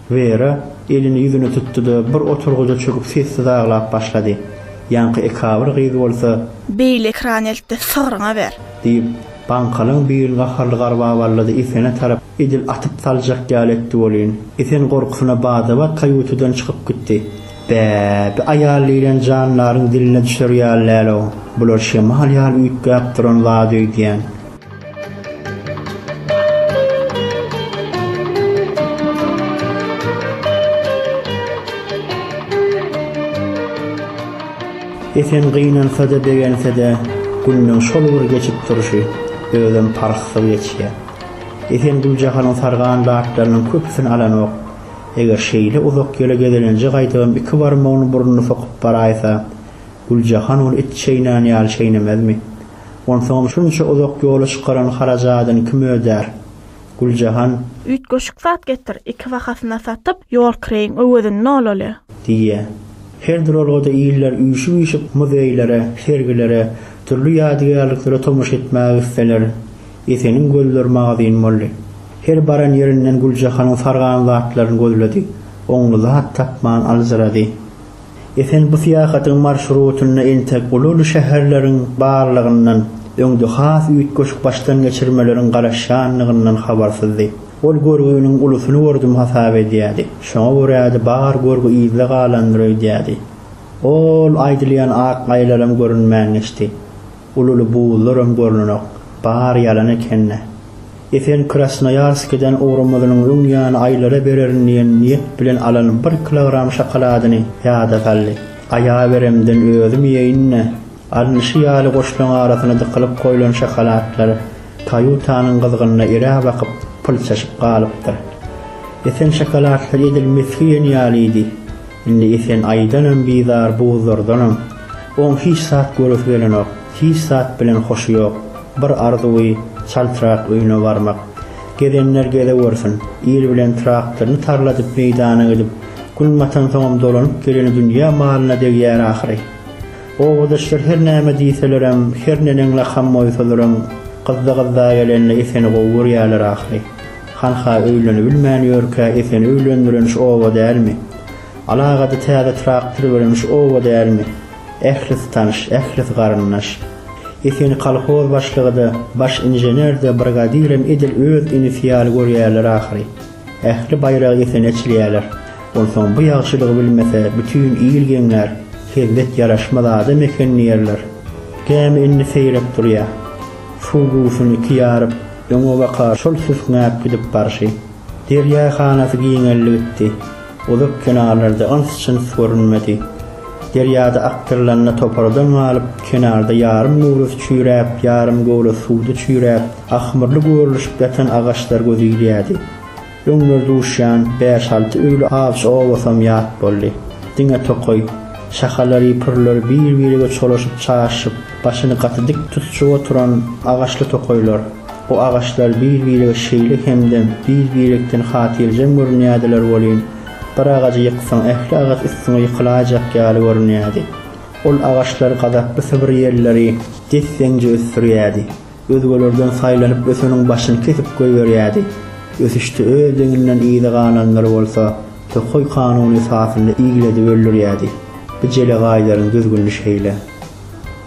Wera elini ýüzüne tutdy-da, bir oturgyja çöküp sessiz aglap başlady. Ýaňky ekabir gyz bolsa. Beýle ekran eltdi, sygryňa ber! Diýip, baňkalyň birini gaharly garbaballady, Esene tarap edil atyp saljak ýaly etdi welin, Esen gorkusyna bada-bat kaýutadan çykyp gitdi. Bä, bi aýal diýlen jandaryň diline düşer ýaly däl-ow, bular şemal ýaly üýtgäp duran zat öýdýän. Esen gynansa-da, begense-de, gününiň şol bir geçip durşy özem parhsyz geçýär. Esen Güljahanyň sargan zatlarynyň köpüsini alanok. Eger şeýle uzak ýola gezelenje gaýtabam iki barmagyny burnuna sokup baraýsa, Güljahan ony it çeýnän ýaly çeýnemezmi? Onsoňam şunça uzak ýola çykaran harajadyny kim ödär? Güljahan. Üýtgeşik zat getir, iki bahasyna satyp, ýol kireýiň öwezini alaly. Diýýär. Her duralgada iller üýşüp-üýşüp muzeýlere, sergilere, dürli ýadygärliklere tomaşa etmäge gitseler, Eseniň gözleri magazyn boldy. Her baran ýerinden Güljahanyň sargan zatlaryny gözledi. Oňly zat tapman aljyrady. Esen bu syýahatyň marşrutynda entek uly-uly şäherleriň barlygyndan, öňde has üýtgeşik başdan geçirmeleriň garaşýanlygyndan habarsyzdy. Ol görgüniň ulusyny gördüm hasap edýärdi. Şoňa görä-de bar görgi yzda galandyr öýdýärdi. Ol aýdylýan ak aýylaram görünmän geçdi. Ululy buzlaram görnenok. Bary ýalan ekeni. Esen Krasnoýarskiden ugramyzynyň öň ýany aýlara bererin diýen niýet bilen alan bir kilogram şokoladyny ýada saldy. Aýaberemden özüm iýeýin-de, alnyşy ýaly goşlaryň arasyna dykylyp goýlan şokoladlar kajutanyň gyzgynyna irä bakyp pylçaşyp galypdyr. Esen şokoladlar edil mesgi iýen ýalydy. Indi Esen aýdanam bizar, buzlardanam. Oň hiç zat göresi gelenok, hiç zat bilen hoşy ýok. Bir arzuwy, çaltrak öýüne barmak. Gezenler gezewersin. Ir bilen traktoryny tarladyp meýdana gidip, gün batansoňam dolanyp geleni dünýä malyna degýär ahyry. Obadaşlar her näme diýselerem, her neneň lakam goýsalaram, gyzda-gyzda gelende Eseni gowy görýärler ahyry. Hanha öýlenibilmän ýörkä Eseni öýlendireniş oba dälmi? Alagady täze traktor bilen şu oba dälmi? Ählisi tanyş, ählisi garyndaş. Eseni kolhoz başlygy-da, baş inžener-de, brigadirem edil öz inisi ýaly görýärler ahyry. Ähli baýragy Esene çilýärler. Onsoň bu ýagşylygy bilmese, bütin il geňlär, hezzet ýaraşmaz adam eken diýerler. Gämi indi seýrek durýar. Suw guýysyny iki ýaryp, öňe baka şol süsňäp gidip barşy. Derýa hanasy giňeldi gitdi. Uzak kenarlarda yns-çyns görünmedi. Derýada akdyrylanda topardan galyp, kenarda ýarym göwresi çüýräp, ýarym göwresi suwda çüýräp, ahmyrly görlüşip ýatan agaçlar göze ilýärdi. Öňler duşýan bäş-alty öýli awçy obasam ýat boldy. Diňe tokaý. Şahalary-pürleri bir-birege çolaşyp-çaşyp, başyny gaty dik tutuşyp oturan agaçly tokaýlar. Bu agaçlar bir-birege şeýle hemdem, bir-birekden hatyrjem görünýärdiler welin, bir agajy ýyksaň, ähli agaç üstüňe ýykylaýjak ýaly görünýärdi. Ol agaçlar gazaply sybr ýelleri desseňje ösdürýärdi. Özgelerden saýlanyp öseniň başyny kesip goýberýärdi. Ösüşde öz deňinden yza galanlary bolsa tokaý kanuny esasynda iglediberlirýärdi. Bijele gaýdaryň düzgünli şeýle.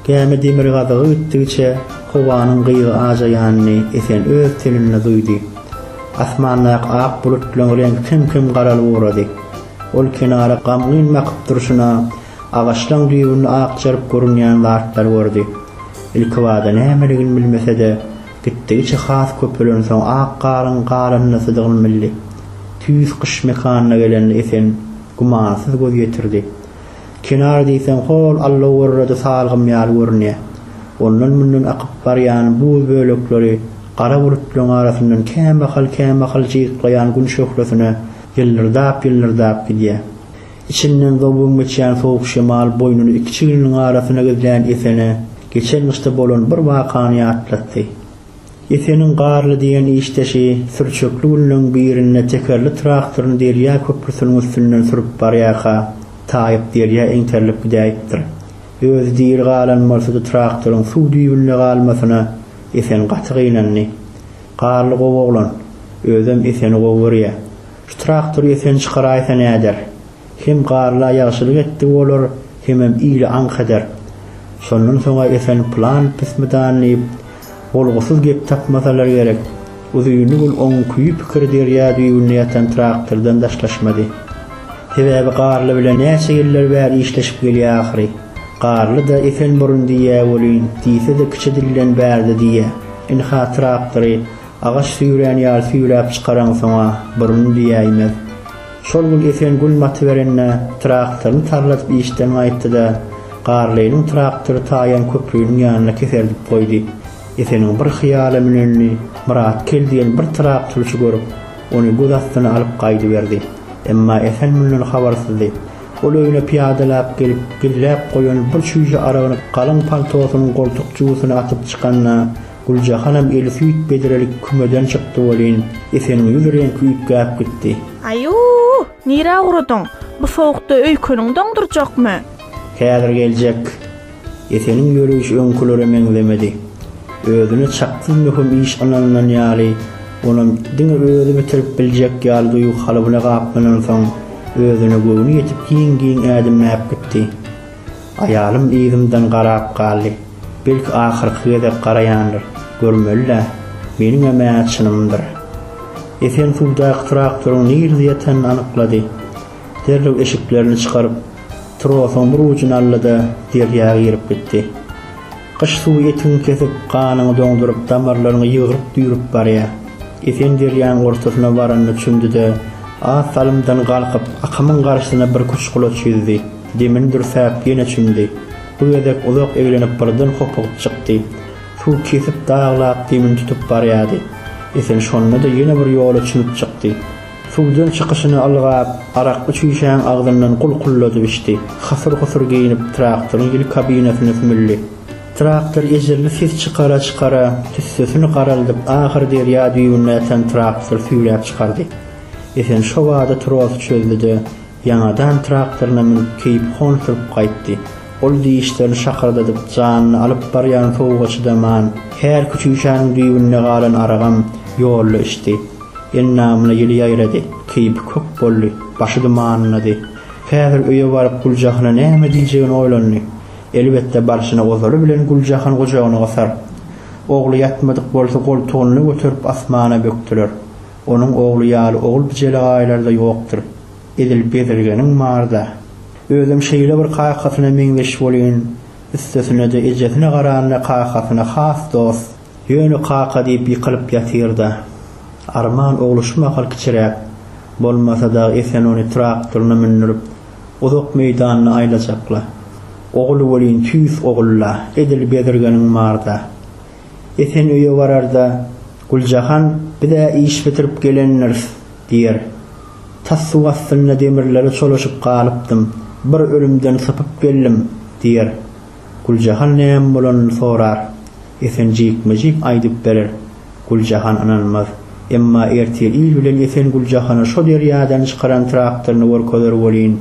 Gämi demirgazygy ötdigiçe howanyň gyýgy ajaýanyny Esen öz teninde duýdy. Asmandaky ak bulutlaryň reňki kem-kem garalyp ugrady. Ol kenara gamgyn bakyp durşuna, agaçlaryň düýbünde akjaryp görünýän zatlary gördi. Ilkibada nämeligini bilmese-de, gitdigiçe has köpelensoň ak garyň galyndysydygyny bildi. Tüýs gyş mekanyna gelende Esen gümansyz göz ýetirdi. Kenar diýseň hol allagurrady salgym ýaly görünýä. Ondan-mundan akyp barýan buz bölekleri gara bulutlaryň arasyndan kämahal-kämahal jyýklaýan gün şöhlesine ýyldyrdap-ýyldyrdap gidýä. Içinden zowwam geçýän sowuk şemal boýnuny iki çigniniň arasyna gizlän Esene geçen gyşda bolan bir wakany ýatlatdy. Eseniň Garly diýen işdeşi sürçekli günleň birinde tekerli traktoryny derýa köprüsiniň üstünden sürüp barýarka, taýyp derýa eňterilip gidäýipdir. Özi diri galan bolsa-da traktoryň suw düýbünde galmasyna Esen gaty gynandy. Garly gowy oglan. Özem Eseni gowy görýär. Şu traktory Esen çykaraýsa näder? Hem Garla ýagşylyk etdigi bolar, hemem ile aňk eder. Şondan soň-a Esen plan pismidan diýip, Bolgusyz gep tapmasalar gerek. Uzynly gün oň küýi pikiri derýa düýbünde ýatan traktordan daşlaşmady. Sebäbi Garly bilen näçe ýyllar bäri işleşip gelýä ahyry. Garly-da Esenburun diýýä welin, diýse-de kiçi dilden Bärde diýýä. Ynha, traktory agaç süýrän ýaly süýräp çykaraňsoň-a, burun diýäýmez. Şol gün esen gün batyberende, traktoryny tarladyp işden gaýtdy-da, Garlynyň traktory taýan köpriniň ýanynda keseldip goýdy. Eseniň bir hyýala münenini Myratgel diýen bir traktorçy görüp, ony göz astyna alyp gaýdyberdi. Emma Esen mundan habarsyzdy. Ol öýüne pyýadalap gelip, gizläp goýan bir çüýşe aragyny galyň paltosynyň goltuk jübüsine atyp çykanda, Güljahanam eli süýt bedrelik kümeden çykdy welin, Eseniň ýüz reňki üýtgäp gitdi. Aý-uw, nirä ugradyň? Bu sowukda öýkeniň doňdurjakmy? Häzir geljek. Eseniň ýöreýşi öňkülere meňzemedi. Özüne çaksyz möhüm iş ynanylan ýaly, onam diňe özi bitirip biljek ýaly duýgy kalybyna gaplanansoň, özüne göwni ýetip giň-giň ädimläp gitdi. Aýalym yzymdan garap galdy. Belki ahyrky gezek garaýandyr, görmeli-dä, meniňem-ä çynymdyr. Esen suwdaky traktoryň nirde ýatanyn anyklady. Derrew eşiklerini çykaryp, trosuň bir ujuny aldy-da, derýa girip gitdi. Gyş suwy etiňi kesip, ganyňy doňduryp, damarlaryňy ýygryp-düýrüp barýar. Esen derýanyň ortasyna baranda çümdi-de, az salymdan galkyp, akymyň garşysyna birküç gulaç ýüzdi. Demini dürsäp, ýene çümdi. Bu gezek uzak eglenip birden hopugyp çykdy. Suw kesip daglap demini tutup barýady. Esen şonda-da ýene bir ýola çümüp çykdy. Suwdan çykyşyny ylgap, arakly çüýşäň agzyndan gulkulladyp içdi. Hasyr-husur geýnip traktoryň ýel kabinasyna sümüldi. Traktor ejerli ses çykara-çykara, tüssesini garaldyp ahyr derýa düýbüne ýatan traktory süýräp çykardy. Esen şobada trosy çözdi-de, Ýaňadan traktoryna münüp keýpi hon sürüp gaýtdy. Ol dişlerini şakyrdadyp janyny alyp barýan sowuga çydaman, her küçüýşäniň düýbünde galan aragam ýolda içdi. Endamyna ýyly ýaýrady. Keýpi kök boldy. Başy dumanlady. Häzir öýe baryp Güljahana näme diýjegini oýlandy. Elbetde barşyna ozaly bilen Güljahany gujagyna gysar. Ogly ýatmadyk bolsa goltugynda göterip asmana bökdüler. Onuň ogly ýaly ogul-bijelegaýlary-da ýokdur. Edil bezirgeniň bar-da. Özem şeýle bir kakasyna meňzeş welin, üstesine-de ejesine garanda kakasyna has dost. Ýöne kaka diýip ýykylyp ýatyr-da. Arman ogly şu mahal kiçiräk. Bolmasa dagy Esen ony traktoryna mündürip, uzak meýdanyna aýlajakla. Ogly welin tüýs ogul-la. Edil bezirgeniň bar-da. Esen öýe bararda, Güljahan, Biz-ä iş bitirip gelendiris, diýer. Tas suw astynda demirlere çolaşyp galypdym. Bir ölümden sypyp geldim, diýer. Güljahan näme bolanyny sorar. Esen jikme-jik aýdyp berer. Güljahan ynanmaz. Emma ertir il bilen Esen Güljahana şo derýadan çykaran traktoryny görkezer welin,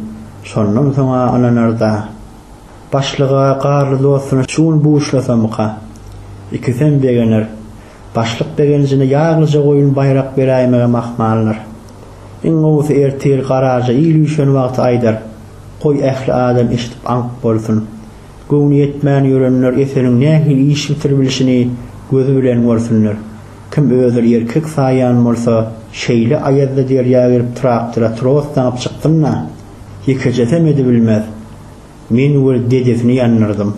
şondan soň-a ynanar-da. Başlyga, Garly dostuna şu gün buşlasamyka? Ikisem begener. Başlyk begenjine ýaglyja goýun baýrak beräýmegem ahmaldyr. Iň gowusy ertir garaja il üýşen wagty aýdar. Goý ähli adam eşidip aňk bolsun. Göwni ýetmän ýörenler Eseliň nähili iş bitiribilişini gözi bilen görsünler. Kim özür erkek saýýan bolsa, şeýle aýazda derýa girip traktora tros daňyp çyksyn-da! ýekejesem edibilmez. Men we dedesini ýandyrdym.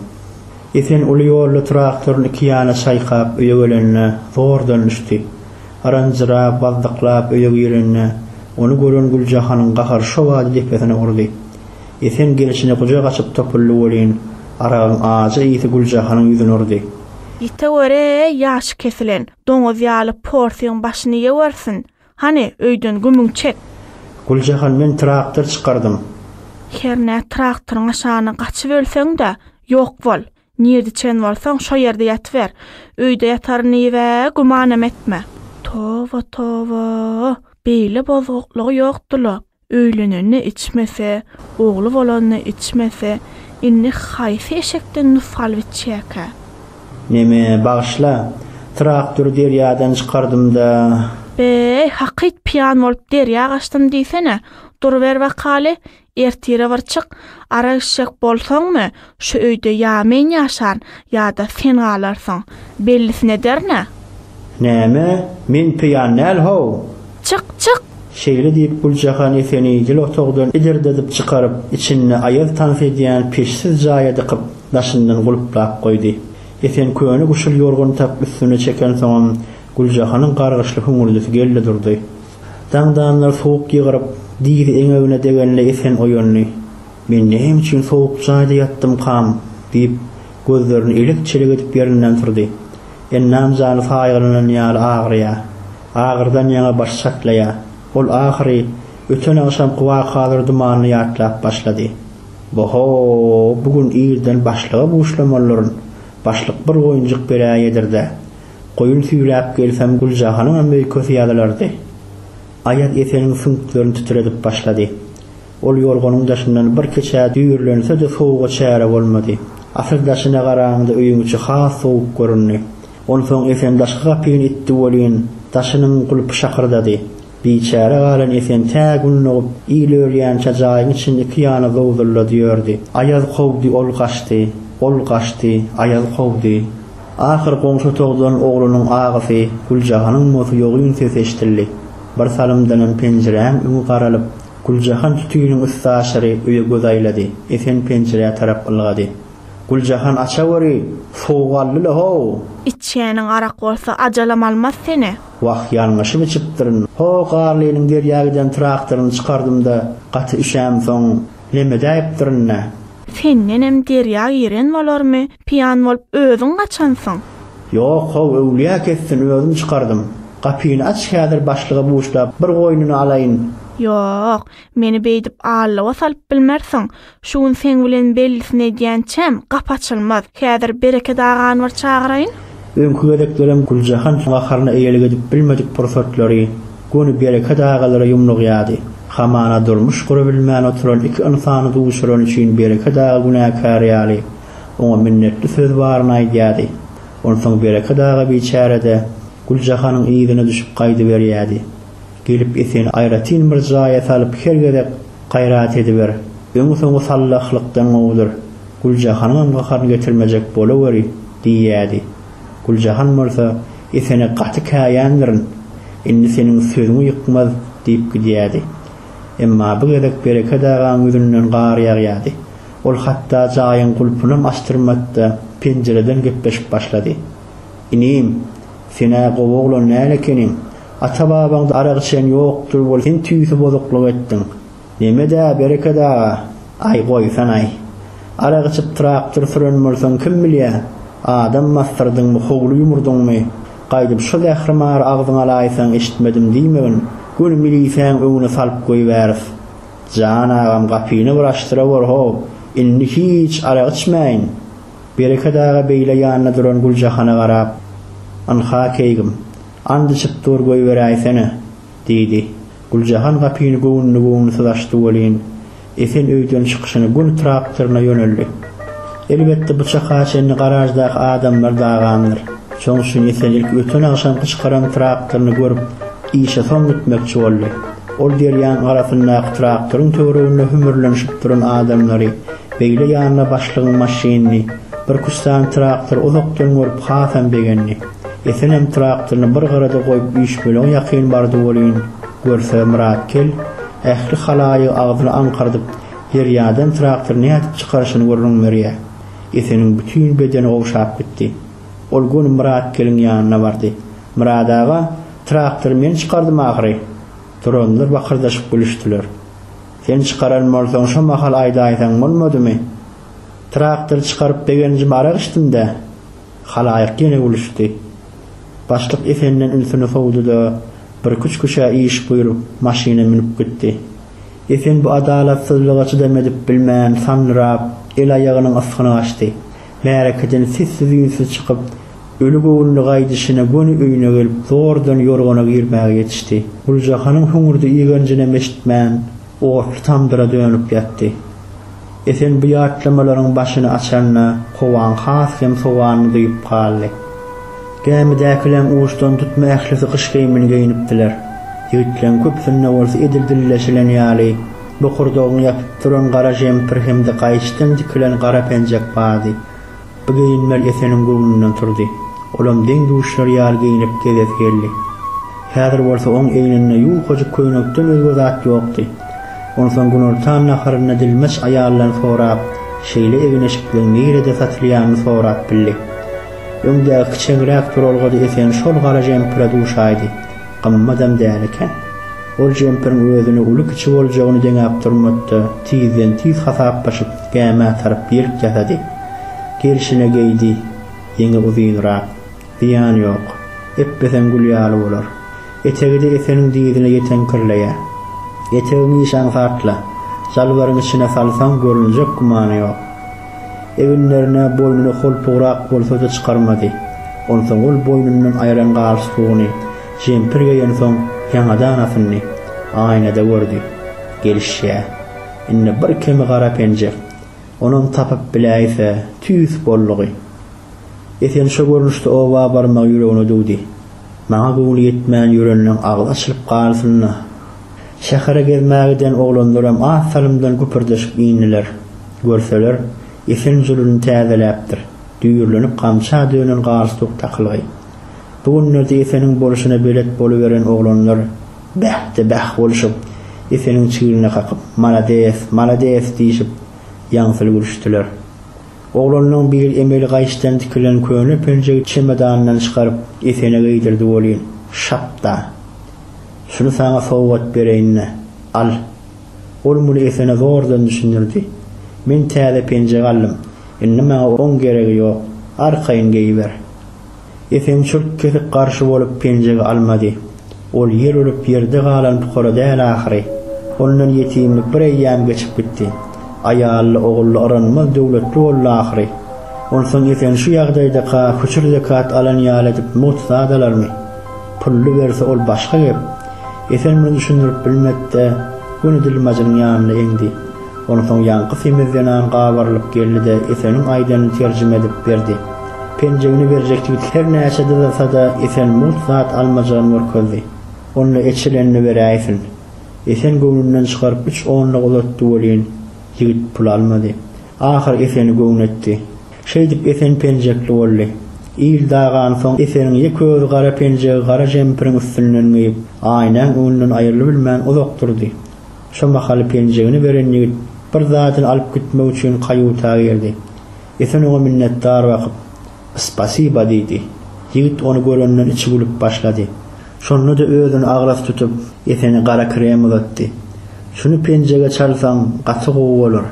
Esen uly ýolda traktoryny iki ýana çaýkap öýe gelende zordan düşdi. Aranjyrap, bazzyklap öýe girende, ony gören Güljahanyň gahary şo bada depesine urdy. Esen gelşine gujak açyp topuldy welin, aragyň ajy ysy Güljahanyň ýüzüne urdy. Ýite gör-eý, ýaşy kesilen, doňuz ýaly porsyň başyny ýewersin! Hany, öýden gümüň çek! Güljahan, men traktor çykardym. Hernä traktoryň aşagyna gaçyp ölseň-de, ýok bol. Nirde çen bolsaň, şo ýerde ýatyber. Öýde ýataryn diýib-ä gümanam etme. Toba-toba! Beýle bozguklygy ýokdy-la. Öýlenende içmese, ogly bolanda içmese, indi haýsy eşekden nusgal biçýäkä? Neme, bagyşla. Traktory derýadan çykardym-da. Be-eý, hakyt pyýan bolup derýa gaçdym diýsene. Duruber bakaly, ertire bir çyk. Arak içjek bolsaňmy, Şu öýde ýa men ýaşan, ýa-da sen galarsyň. Bellisini ederin-ä. Näme, men peýan däl-how? Çyk, çyk! Şeýle diýip, Güljahan Eseni ýyl otagdan idirdedip çykaryp, içinde aýaz tans edýän peçsiz jaýa dykyp, daşyndan gulplap goýdy. Esen köne guşul ýorgany tapyp üstüne çekensoňam, Güljahanyň gargyşly hüňürdisi geldi durdy. Daňdanlar suwuk ýygryp, dyzy eňegine degende Esen oýandy. Men näme üçin sowuk jaýda ýatdymkam? diýip, gözlerini elek-çelek edip ýerinden turdy. Ennam jany saýgalanan ýaly agyrýar. Agyrydan ýaňa başy çatlaýar. Ol ahyry öten agşamky wakalar dumanyny ýatlap başlady. Bo-ho, bu gün irden başlyga buşlamalylaryn. Başlyk bir goýunjyk beräý eder-dä. Goýun süýräp gelsem Güljahanyňam öýkesi ýazylardy. Aýaz Eseniň süňklerini titredip başlady. Ol ýorganyň daşyndan bir kiçä düýrlense-de sowuga çäre bolmady. Asyr daşyna garaňda öýüň içi has sowuk göründi. Onsoň Esen daşky gapyny itdi welin, daşynyň gulpy şakyrdady. Biçäre galan Esen tä gün dogup, il ölýänçä jaýyň içinde iki ýana zowzullady ýördi. Aýaz kowdy, ol gaçdy. Ol gaçdy, aýaz kowdy. Ahyr goňşy otagdan oglunyň agysy, Güljahanyň mosy ýogyn sesi eşidildi. Birsalymdanam penjiräň öňi garalyp, Güljahan sütüniň üsti aşyry öýe göz aýlady. Esen penjirä tarap ylgady. Güljahan açaweri sowuk aldy-la-how! Içýäniň arak bolsa, ajalam almaz seni. Wah, ýalňyşyp içipdirin. Ho, Garlynyň derýa giden traktoryny çykardym-da, gaty üşämsoň, lemedäýipdirin-dä. Sendenem derýa giren bolarmy? Piýan bolup özüň gaçansyň. Ýok how öwlýä kessin özüm çykardym. Gapyny aç häzir başlyga buşlap bir goýnuny alaýyn. Ýok, meni beýdip allawa salyp bilmersiň. Şu gün seň bilen bellisini edýänçäm, gapy açylmaz. Häzir Bereket agany bir çagyraýyn. Öňki gezeklerem Güljahan gaharyna eýelik edip bilmedik pursatlary göni Bereket agalara ýumrugýardy. Hamana durmuş gurabilmän oturan iki ynsany duşurany üçin Bereket aga günäkär ýaly Oňa minnetli söz baryny aýdýardy. Onsoň Bereket aga biçäre-de Güljahanyň yzyna düşüp gaýdyberýärdi. Gelip ýeteni aýratyn bir jaýa salyp her gezek gaýrat ediber, öňi-soňy sallahlykdan gowudyr, Güljahanyňam gaharyny getirmejek bolaweri diýýärdi. Güljahan bolsa, Esene gaty käýändirin, indi seniň sözüňi ýykmaz diýip gidýärdi. Emma bu gezek Bereket agaň ýüzünden gar ýagýardy. Ol hatda jaýyň gulpunam açdyrmady-da, penjireden gepleşik başlady. Inim, sen-ä gowy oglan däl ekeniň. Ata-babaňda arak içen ýokdur weli sen tüýsi bozuklyk etdiň. Neme-dä, Bereket aga? Aý, goýsan-aý. Arak içip traktor süren bolsaň, kim bilýä, adam basdyrdyňmy, howly ýumurdyňmy? Gaýdyp şo zährimary agzyňa alaýsaň, eşitmedim diýmegin, göni milisäň öňüne salyp goýberis. Jan agam gapyny bir açdyrawor how, indi hiç arak içmäýin. Bereket aga beýle ýanynda duran Güljahana garap, Ynha keýgim, and içip dur goýberäýsene, diýdi. Güljahan gapyny göwünli-göwünsiz açdy welin, Esen öýden çykyşyny gün traktoryna ýöneldi. Elbetde bu çaka çenli garaždaky adamlar dagandyr. Şoň üçin Esen ilki öten agşamky çykaran traktoryny görüp, işe soň gitmekçi boldy. Ol derýaň arasyndaky traktoryň töwereginde hümürlenişip duran adamlary, beýle ýanyna başlygyň maşynyny, birküstan traktory uzakdan görüp hasam begendi. Esenem traktoryny bir gyrada goýup üýşmeleň ýakyn bardy welin, görse Myratgel, ähli halaýygy agzyny aňkardyp, derýadan traktory nädip çykaryşyny gürrüň berýär. Eseniň bütin bedeni gowşap gitdi. Ol göni Myratgeliň ýanyna bardy. Myrat aga! Traktory men çykardym ahyry. Duranlar bakyrdaşyp gülüşdiler. Sen çykaran bolsaň şo mahal aýdaýsaň bolmadymy? Traktory çykaryp begenjime arak içdim-dä. Halaýyk ýene gülüşdi. Başlyk Esenden ünsüni sowdy-da, birküç küşä iş buýrup, maşyna münüp gitdi. Esen bu adalatsyzlyga çydam edip bilmän, sanrap, el-aýagynyň ysgyny gaçdy. Märekeden sessiz-üýnsüz çykyp, öli göwünli gaýdyşyna göni öýüne gelip, zordan ýorgana girmäge ýetişdi. Güljahanyň hüňürdi-igenjinem eşitmän, otly tamdyra dönüp ýatdy. Esen bu ýatlamalaryň başyny açanda, kowaň has hem sowanyny duýup galdy. Gämidäkileň uçdan tutma ählisi gyş geýimini geýnipdiler. Ýigitleň köpüsinde bolsa edil dilleşilen ýaly, Bokurdagyny ýapyp duran gara jempir hem-de gaýyçdan dikilen gara penjek bardy. Bu geýinmel Eseniň göwnünden turdy. Olam deň-duşlary ýaly geýnip gezesi geldi. Häzir bolsa oň egninde ýuňkajyk köýnekden özge zat ýokdy. Onsoň günortan naharyny dilmaç aýaldan sorap, şeýle egin-eşikligiň nirede satylýanyny sorap bildi. Öňdäki kiçeňräk duralgada Esen şol gara jempire duşaýdy. Gymmadam däl eken. Ol jempiriň özüne uly-kiçi boljagyny deňäp durmady-da, tizden-tiz hasaplaşyp, gämä tarap ýelk ýasady. Gelşine geýdi. Ýeňi uzynrak. Zyýany ýok. Epbeseň gül ýaly bolar. Etegi-de Eseniň dyzyna ýeteňkirleýär. Etegiňi işaňsatla, jalbaryň içine salsaň görünjek gümany ýok. Eginlerine, boýnuna holpugrak bolsa-da çykarmady. Onsoň ol boýnundan aýran galstugyny jempir geýensoň ýaňadan asyndy. Aýnada gördi. Gelişýä. Indi bir kemi gara penjek. Onam tapyp biläýse, tüýs boldugy. Esen şo görnüşde oba barmagy ýüregine düwdi. Maňa göwni ýetmän ýörenleň agyz açylyp galsyn-da. Şähere gezmä giden oglanlaram az salymdan güpürdeşip indiler. Görseler, Esen juluny täzeläpdir. Düýrlenip gamça dönen galstuk takylgy. Bu günlerde Eseniň bolşuna belet boluberen oglanlar bäh-de bäh bolşup, Eseniň çigline kakyp, Malades, malades diýşip, ýaňsyly gülüşdiler. Oglanlaň biri emeli gaýçdan tikilen köne penjegi çemedanyndan çykaryp, Esene geýdirdi welin, Şapda! Şuny saňa sowgat bereýin-le, al! Ol muny Esene zordan düşündirdi. Men täze penjek aldym. Indi maňa oň geregi ýok. Arkaýyn geýiber. Esen çürt-kesik garşy bolup penjegi almady. Ol ýer ölüp ýerde galan pukara däl ahyry. Ondan ýetimlik bir eýýäm geçip gitdi. Aýally, ogully yranmaz döwletli boldy ahyry. Onsoň Esen şu ýagdaýdaka küçür zekat alan ýaly edip mugt zadalarmy? Pully berse ol başga gep. Esen muny düşündirip bilmedi-de, göni dilmajynyň ýanyna eňdi. Onsoň ýaňky semiz zenan gabarylyp geldi-de, Eseniň aýdanyny terjime edip berdi. Penjegini berjek ýigit hernäçe dyzasa-da, Esen mugt zat almajygyny görkezdi. Onda eçilenini beräýsin. Esen göwnünden çykaryp üç onluk uzatdy welin, ýigit pul almady. Ahyr Eseni göwün etdi. Şeýdip Esen penjekli boldy. Il dagan soň Eseniň ýeke özi gara penjegi gara jempiriň üstünden geýip, Aýnäň öňünden aýrylybilmän uzak durdy. Şo mahaly penjegini beren ýigit bir zadyny alyp gitmek üçin kaýuta girdi. Esen oňa minnetdar bakyp. Spasiba, diýdi. Ýigit ony görenden içi gülüp başlady. Şonda-da özüni agras tutup, Esene gara krem uzatdy. Şuny penjege çalsaň, gaty gowy bolar.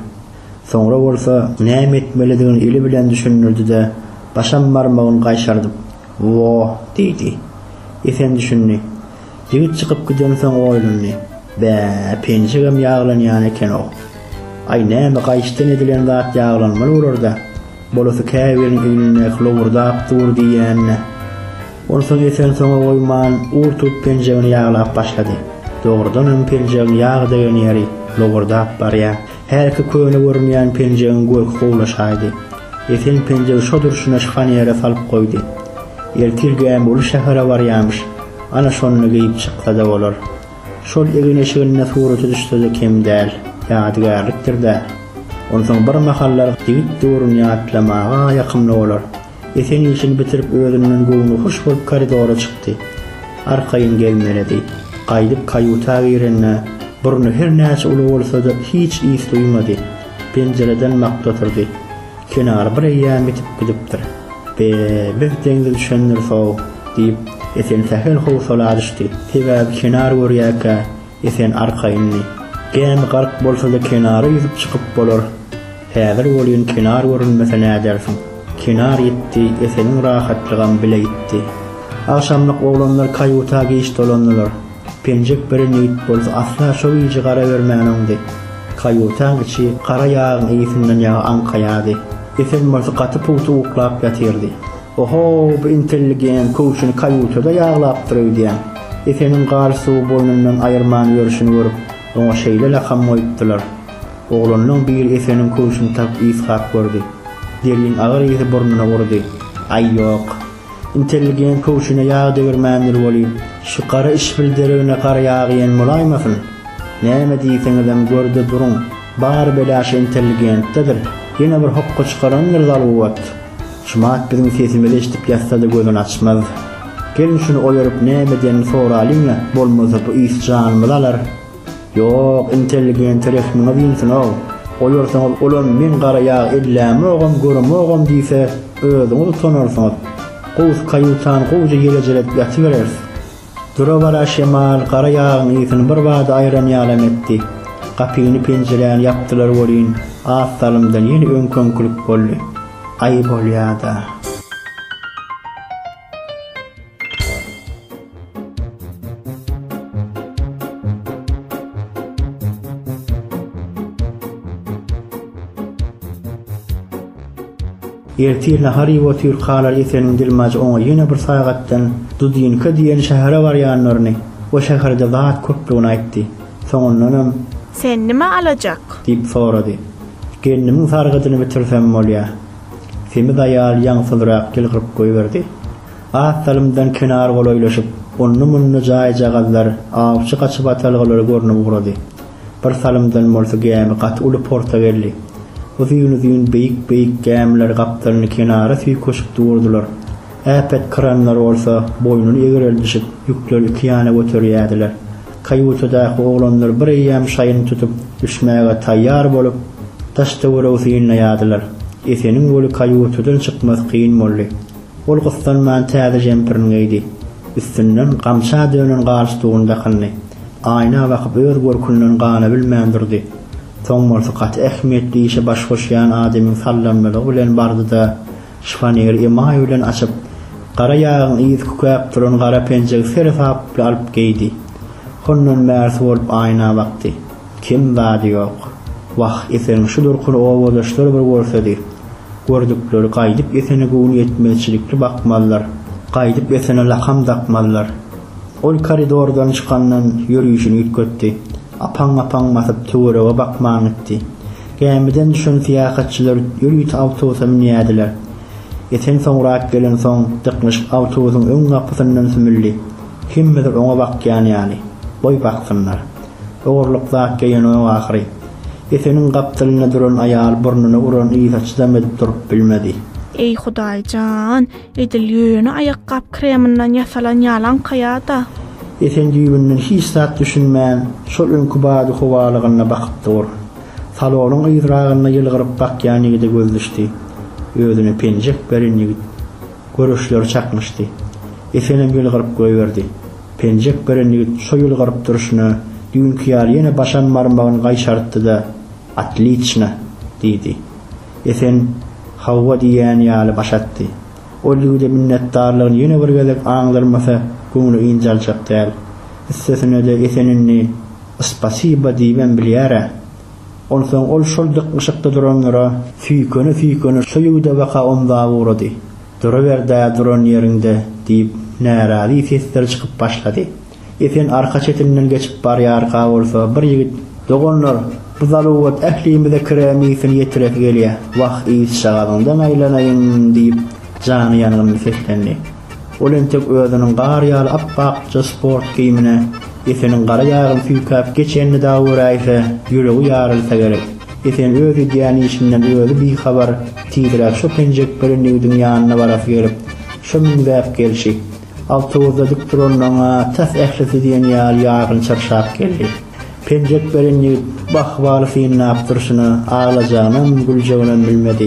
Soňra bolsa, näme etmelidigini eli bilen düşündirdi-de, başam barmagyny gaýşardyp, Woo! diýdi. Esen düşündi. Ýigit çykyp gidensoň oýlandy. Bä, penjegem ýaglanýan eken-ow. Aý, näme, gaýyşdan edilen zat ýaglanmaly bolar-da. Bolasy käbiriň egnindäki lowurdap dur diýýän-dä. Onsoň Esen soňa goýman, ur tutup penjegini ýaglap başlady. Dogrudanam, penjegiň ýag degen ýeri lowurdap barýar. Hälki köne görünýän penjegiň görki gowlaşaýdy. Esen penjegi şo durşuna şykan ýere salyp goýdy. Ertir gämi uly şähere barýamyş, ana şonda geýip çyksada bolar. Şol egin-eşiginde suraty düşsede kem däl, ýadygärlikdir-dä. Onsoň birmahallar ýigit döwrüni ýatlamaga ýakymly bolar. Esen işini bitirip özünden göwnühoş bolup koridora çykdy. Arkaýyn gelmelidi. Gaýdyp kaýuta girende, burny her näçe uly bolsa-da hiç ys duýmady. Penjireden bakdy oturdy. Kenar bir eýýäm ýitip gidipdir. Be, biz deňze düşendiris-ow, diýip, Esen sähel howsala düşdi. Sebäbi kenar görýärkä, Esen arka indi. Gämi gark bolsa-da kenara ýüzüp çykyp bolar. Häzir welin kenar görünmese nädersiň. Kenar ýitdi, Eseniň rahatlygam bile ýitdi. Agşamlyk oglanlar kaýuta giç dolandylar. Penjek biri nigit bolsa asla şo gije gara bermän oňdy. Kaýutaň içi gara ýagyň ysyndan ýaga aňkaýardy. Esen bolsa gaty pugta uklap ýatyrdy. Oho, bu intelligent köwşüni kaýutada ýaglapdyr öýdýän. Efeniň galstugy boýnundan aýyrman ýörşüni görüp, oňa şeýle lakam goýupdylar. Oglanlaň biri Efeniň köwşüni tapyp ysgap gördi. Derýiň agyr ysy burnuna urdy. Aý, ýok. Intelligent köwşüne ýag degirmändir welin, şu gara işbil deregine gara ýagyýen bolaýmasyn? Näme diýseňizem, gör-de duruň, bar bela şu intelligentdedir. Ýene bir hokga çykarandyr zaluwat. Şumat biziň sesimizi eşidip ýatsada gözüni açmaz. Gelin şuny oýaryp näme edenini soralyň-a, bolmasa bu ýs janymyzy alar. Ýok, intelligente rehmiňiz ýnsyn-ow. Oýarsaňyz olam men gara ýag ellämogam, göremogam diýse, özüňiz utanarsyňyz. Gowusy kayutan gowja ýelejeledip ýatybereris. Dura-bara şemal gara ýagyň ysyny birbada aýran ýalam etdi. Gapyny-penjiräni ýapdylar welin, az salymdan ýene öňküňkilik boldy. Aý bolýa-da. Ertir nahar iýip otyr Kalar Eseniň dilmajy oňa ýene bir sagatdan Dudinka diýen şähere barýanlaryny, o şäherde zat köplügini aýtdy. Soňundanam. Sen nime alajak? Diýip sorady. Gelnimiň sargydyny bitirsem bolýa. Semiz aýal ýaňsyzrak ýylgyryp goýberdi. Az salymdan kenar golaýlaşyp, onda-munda jaýjagazlar, awçy gaçybatalgalary görnüp ugrady. Bir salymdan bolsa gämi gaty uly porta geldi. Uzyn-uzyn beýik-beýik gämiler gapdalny kenara süýkeşip durdular. Äpet kranlar bolsa boýnuny egreldişip, ýükleri iki ýana göterýärdiler. Kaýutadaky oglanlar bir eýýäm şaýyny tutup, düşmäge taýýar bolup, daş-töweregi synlaýardylar. Eseniň weli kaýutadan çykmasy kyn boldy. Ol gyssanman täze žempirini geýdi. Üstünden gamça dönen galstugyny dakyndy. Aýna bakyp öz görkünden gana bilmän durdy. Soň bolsa gaty ähmiýetli işe baş goşýan adamyň sallanmalygy bilen bardy-da, şifoneri emaý bilen açyp, gara ýagyň yzy kükäp duran gara penjegi seresaply alyp geýdi. Hondan bärsi bolup aýna bakdy. Kem zady ýok. Wah, Eseniň şu durkuny obadaşlar bir görsedi. Gördükleri gaýdyp Esene göwnüýetmezçilikli bakmazlar. Gaýdyp Esene lakam dakmazlar. Ol koridordan çykandan ýörişini üýtgetdi. Apaň-apaň basyp töwerege bakman gitdi. Gämiden düşen syýahatçylar ýörite awtobusa münýärdiler. Esen soňrak gelensoň dyknyşyp awtobusyň öň gapysyndan sümüldi. Kimmidir oňa bakýan ýaly. Goý baksynlar. Ogurlyk zat geýenok ahyry. Eseniň gapdalynda duran aýal burnuny uran yza çydam edip durup bilmedi. Eý Hudaý jan! Edil ýöne aýakgap kreminden ýasalan ýalanka ýa-da. Esen düýbünden hiç zat düşünmän, şol öňki bady-howalygyna bakyp dur. Salonyň yzragynda ýylgyryp bakýan ýigide göz düşdi. Özüne penjek beren ýigit. Görüşleri çaknyşdy. Esenem ýylgyryp goýberdi. Penjek beren ýigit şo ýylgyryp durşuna, düýnki ýaly ýene başam barmagyny gaýşarypdy-da. Otliçna! diýdi. Esen Hawa diýýän ýaly baş atdy. Ol ýigide minnetdarlygyny ýene bir gezek aňdyrmasa, göwni ynjaljak däl. Üstesine-de Esen indi Spasiba diýibem bilýär-ä. Onsoň ol şol dyknyşykda duranlara süýkene-süýkene şo ýigidebaka omzap ugrady. Duraber-dä duran ýeriňde! diýip, närazy sesler çykyp başlady. Esen arka çetinden geçip barýarka bolsa, bir ýigit, Doganlar, bu zaluwat ählimize kiremisini ýetiresi gelýär. Wah, yzşagazyňdan aýlanaýyň! diýip, jany ýangynly seslendi. Ol entek özüniň gar ýaly ap-akja sport geýimine Eseniň gara ýagyny süýkäp geçenini-da göräýse, ýüregi ýarylsa gerek. Esen öz edýän işinden özi bihabar, tizräk şo penjek bilen ýigidiň ýanyna barasy gelip, şo müňzäp gelşi, Awtobusa dik duranlaryň-a tas ählisi diýen ýaly ýargyn çyrşap geldi. Penjek beren ýigit Bahybary synlap durşuna, aglajagynam, güljeginem bilmedi.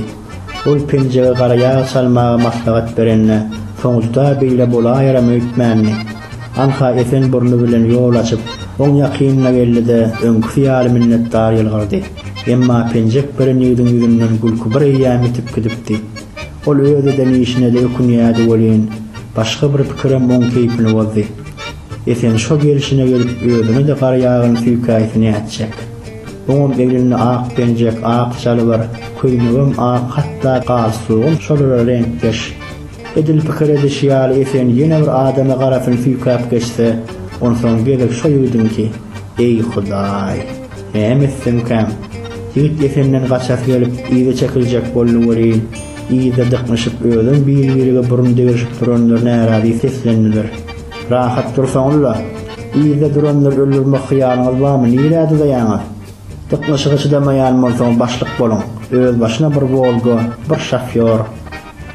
Ol penjege gara ýag çalmagy maslahat berende, soňuzda beýle bolaýaram öýtmändi. Anha esen burny bilen ýol açyp, oň ýakynyna geldi-de, öňküsi ýaly minnetdar ýylgyrdy. Emma penjek beren ýigidiň ýüzünden gülki bireýýäm ýitip gidipdi. Ol öz eden işine-de ökünýärdi welin, başga bir pikirem oň keýpini bozdy. Esen şo gelşine gelip özüne-de gar ýagan süýkäýse nätjek? Oňam egninde ak penjek, ak jalbar, köýnegem ak, hatda galstugam şolara reňkdeş. Edil pikir edişi ýaly Esen ýene bir adama garasyny süýkäp geçse, onsoň gezek şo ýigdiňki. Eý, Hudaý! Näme etsemkäm, ýigit Esenden gaçasy gelip, yza çekiljek boldy welin, yzda dyknyşyp, özem bir-birege burun degrişip duranlar närazy seslendiler. Rahat dursaňyz-la! Yzda duranlary öldürmek hyýalyňyz barmy, nirä dyzaýaňyz? Dyknyşyga çydamaýan bolsaňyz başlyk boluň, özbaşyna bir Wolga, bir şofýor.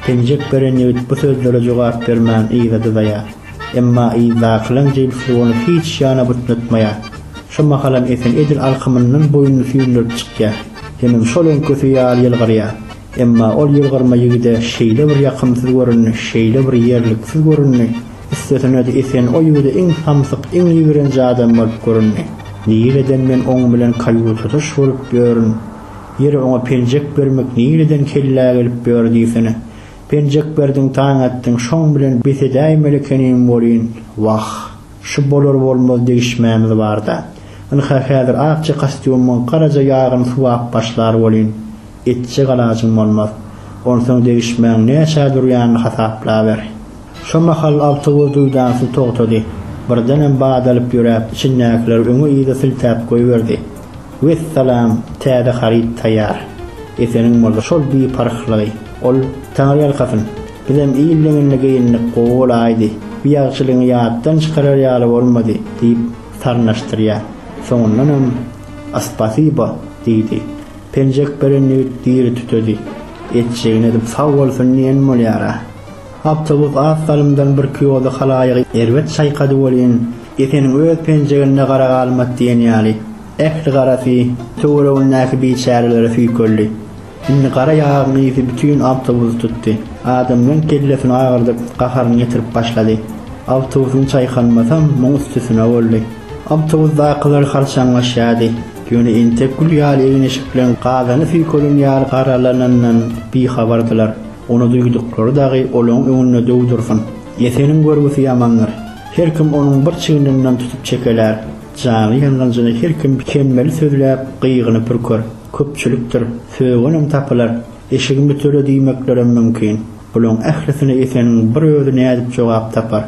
Penjek beren ýigit bu sözlere jogap bermän yza dyzaýar. Emma yzdakylaň jebisli ony hiç ýana butnatmaýar. Şo mahalam Esen edil alkymyndan boýnuny süýndürip çykýar. Hemem şol öňküsi ýaly ýylgyrýar. Emma ol ýylgyrma ýigide şeýle bir ýakymsyz göründi, şeýle bir ýerliksiz göründi, üstesine-de Esen o ýigide iň samsyk, iň ýigrenji adam bolup göründi. Nireden men oň bilen kaýutada şuguryp ýörün? Ýeri oňa penjek bermek nireden kellä gelip ýör diýsene. Penjek berdiň taň atdyň şoň bilen bes edäýmeli ekenim welin, wah, şu bolar-bolmaz degişmämiz bar-da. Ynha häzir akja kostýumyň garaja ýagyny suwap başlar welin, etjek alajyň bolmaz. Onsoň degişmäň näçä durýanyny hasaplaber. Şo mahal awtobus duýdansyz togtady. Birdenem badalyp ýöräp içindäkileri öňe-yza siltäp goýberdi. Wessalam, täze haryt taýýar. Eseniň boldy şol biparhlygy. Ol, Taňryýalkasyn, bizem il deňinde geýindik, gowy bolaýdy, bi ýagşylygyňy ýatdan çykarar ýaly bolmady, diýip, sarnaşdyrýar. Soňundanam, Aspasibo, diýdi. Penjek beren ýigit diri tütedi. Etjegini edip sag bolsun diýen bolýar-a. Awtobus az salymdan birki ýolda halaýygy erbet çaýkady welin, Eseniň öz penjeginde gara galmaz diýen ýaly, ähli garasy töweregindäki biçärelere süýkeldi. Indi gara ýagyň ysy bütin awtobusy tutdy. Adamlaň kellesini agyrdyp, gaharyny ýetirip başlady. Awtobusyň çaýkanmasam, muň üstesine boldy. Awtobusdakylar harçaňlaşýardy, ýöne entek gül ýaly egin-eşik bilen gazana süýkelen ýaly garalanandan bihabardylar. Ony duýduklary dagy olaň öňünde döw dursun. Ýeseniň görgüsi ýamandyr. Her kim onuň bir çigininden tutup çekelär. Jaňy ýangynjyny her kim kemmeli sözläp, gygyny pürker. Köpçülikdir. Sögenem tapylar. Eşigimi töle diýmeklerem mümkin. Bulaň ählisine Ýeseniň bir özi nädip jogap tapar?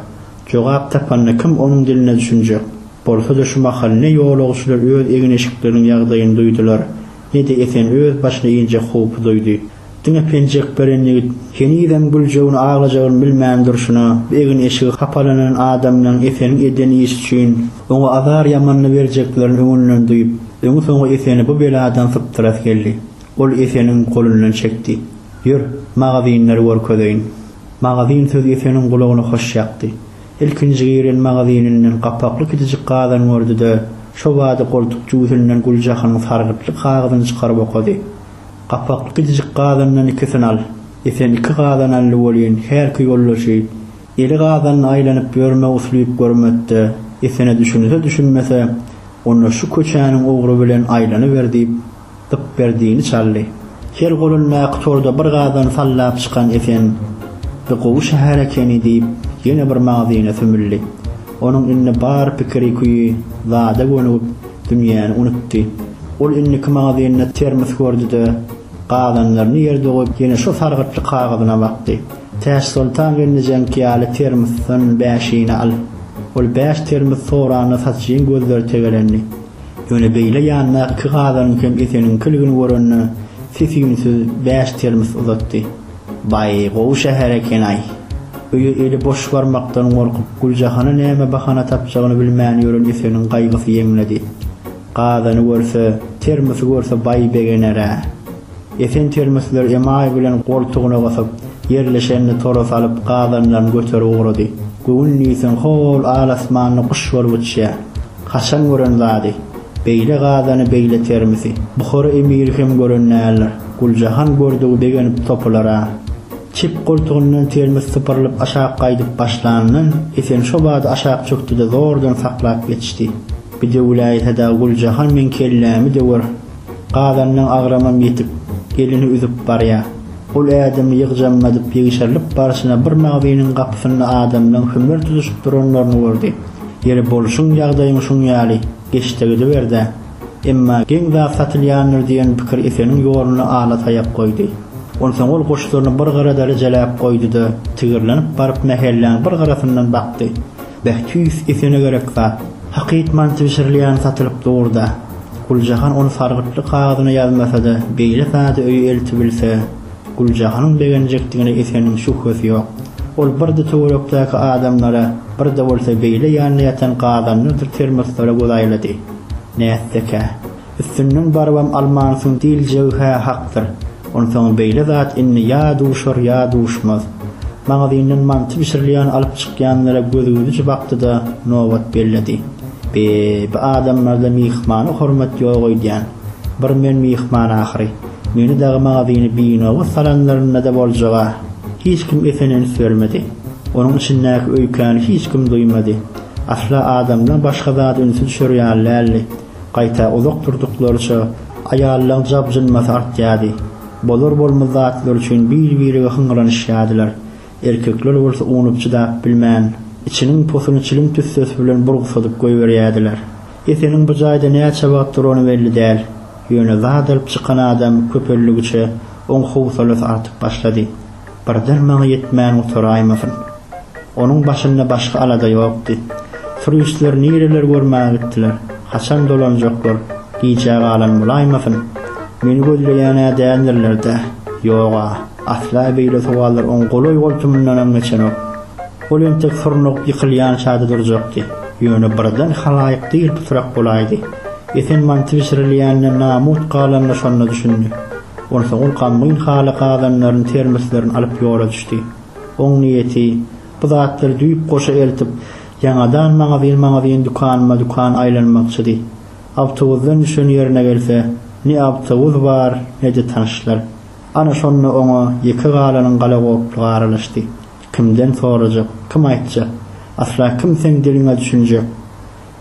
Jogap tapanda kim onuň diline düşünjek? Bolsa-da şu mahal ne ýolagçylar öz egin-eşikleriniň ýagdaýyny duýdular, ne-de Esen öz başyna injek howpy duýdy. Diňe penjek beren ýigit henizem güljegini aglajagyny bilmän durşuna, bu egin-eşigi hapalanan adamlaryň Eseniň eden işi üçin oňa azar ýamanyny berjeklerini öňünden duýup, öňi-soňy Eseni bu beladan sypdyrasy geldi. Ol Eseniň golundan çekdi. Ýör, magazynlary görkezeýin. Magazyn sözi Eseniň gulagyna hoş ýakdy. Ilkinji giren magazynynyň gapakly kiçijik gazyny gördi-de, şo bada goltuk jübüsinden Güljahynyň sargytly kagyzyny çykaryp okady. Gapakly gijijik gazandan ikisini al. Esen iki gazan ally bolýyn, hälki ýoldaşy. Eli gazanda aýlanyp ýörme uslyp görmekde, Esene düşünse-düşünmese, onda şu köçäniň ugry bilen aýlanyber diýip, Gypberdini çaldy. Her golundaky torda bir gazan sallap çykan Esen, Bu gowy şäher ekeni diýip, ýene bir magzyna sümüldi. Onuň indi bar pikiri-küýi zada gönügip, dünýäni unutdy. Ol indiki magazynda termos gördi-de, gazanlaryny ýerde goýup, ýene şo sargytly kagyzyna bakdy. Täçsoltan gelnejeňki ýaly termosdan bäşini al! Ol bäş termos soranda satyjyň gözleri tegelendi. Ýöne beýle ýandaky gazanyň hem Eseniňkiligini görende, ses-üýnsüz bäş termos uzatdy. Baý, gowy şäher eken-aý. Öýi eli boş barmakdan gorkup, Güljahana näme bahana tapjagyny bilmän ýören Eseniň gaýgysy ýeňledi. Gazany görse, termosy görse baý begener-ä. Esen termoslar emaý bilen goltugyna gysyp, ýerleşenini tora salyp, gazanlaryny göterip ugrady. Göwün diýseň hol al-asmanda guş bolup uçýar. Haçan gören zady? Beýle gazany beýle termisi Buhara emiri hem gören däldir. Guljahan gördügi begenip topula-ra. Çep goltugyndan termis sypyrylyp aşak gaýdyp başlanyndan Esen şo bada aşak çökdi-de zordan saklap ýetişdi. Bidewläýse-de Guljahan meň kellämi döwer. Gazanyň agramam ýetip, gelini üzüp barýa. Ol ädimi ýygjammadyp ýegşerlip barşyna bir magzynyň gapysynda adamlaň hümür tutuşyp duranlaryny gördi. Ýeri bolşuň ýagdaýyň şuň ýaly, geç-de gidiber-dä. Emma geň zat satylýandyr diýen pikir Eseniň ýoluna ala taýak goýdy. Onsoň ol goşlaryny bir gyra dalyjaläp goýdy-da, tigirlenip baryp mähelläň bir gyrasyndan bakdy. Beh tüýs esene gerek zat. Hakyt manty bişirilýän satylyp durda. Guljahan ony sargytly kagyzyna ýazmasada beýle sada öýe eltibilse Guljahanyň begenjekdigine Eseniň şübhesi ýok. Ol birde töwerekdäki adamlara birde bolsa beýle ýanynda ýatan gazanlardyr termoslara göz aýlady. Nätsekä. Üstünden barybam almansyň diýiljegi-hä hakdyr. Onsoň beýle zat indi ýa duşar, ýa duşmaz. Magazyndan manty bişirilýän alyp çykýanlara gözügidiş bakdy-da, nobat belledi. Be, bu adamlarda myhmana hormat ýok öýdýän. Bir men myhman ahyry. Meni dagy magazyny binobat salanlarynda-da boljag-a. Hiç kim esen üns bermedi. Onuň içindäki öýkäni hiç kim duýmady. Asla adamdan başga zada ünsi düşer ýaly däldi. Gaýta uzak durduklaryça, aýallaryň jabjynmasy artýardy. Bolar-bolmaz zatlar üçin bir-birege hyňranyşýardylar. Erkekler bolsa unup-çydap bilmän, içiniň posuny çilim tüssesi bilen burgsadyp goýberýärdiler. Eseniň bu jaýda näçe wagt durany belli däl. Ýöne zat alyp çykan adam köpeldigiçe, oň howsalasy artyp başlady. Bir dyrmagy ýetmän gutaraýmasyn. Onuň başynda başga alada ýokdy. Turistler nireler görmäge gitdiler, haçan dolanjaklar, gijä galan bolaýmasyn? Meni gözleýän-ä däldirler-dä? Ýog-a, asla beýle sowallar oň golaý-goltumyndanam geçenok. Ol entek surnugyp ýykylýança-da durjakdy. Ýöne birden halaýyk dyr-pytrak bolaýdy. Esenmanty bişirilýänine namut galanyna şonda düşündi. Onsoň ol gammyn haly gazanlaryny, termoslerini alyp ýola düşdi. Oň niýeti, Bu zatlary düýpgoşa eltip, ýaňadan magazyn-magazyn, dükanma-dükan aýlanmakçydy. Awtobusdan düşen ýerine gelse, ne awtobus bar, ne-de tanyşlar. Ana, şonda oňa ýeke galanyň galagoplugy aralaşdy. Kimden sorajak? Kim aýtjak? Asla kim seň diliňe düşünjek?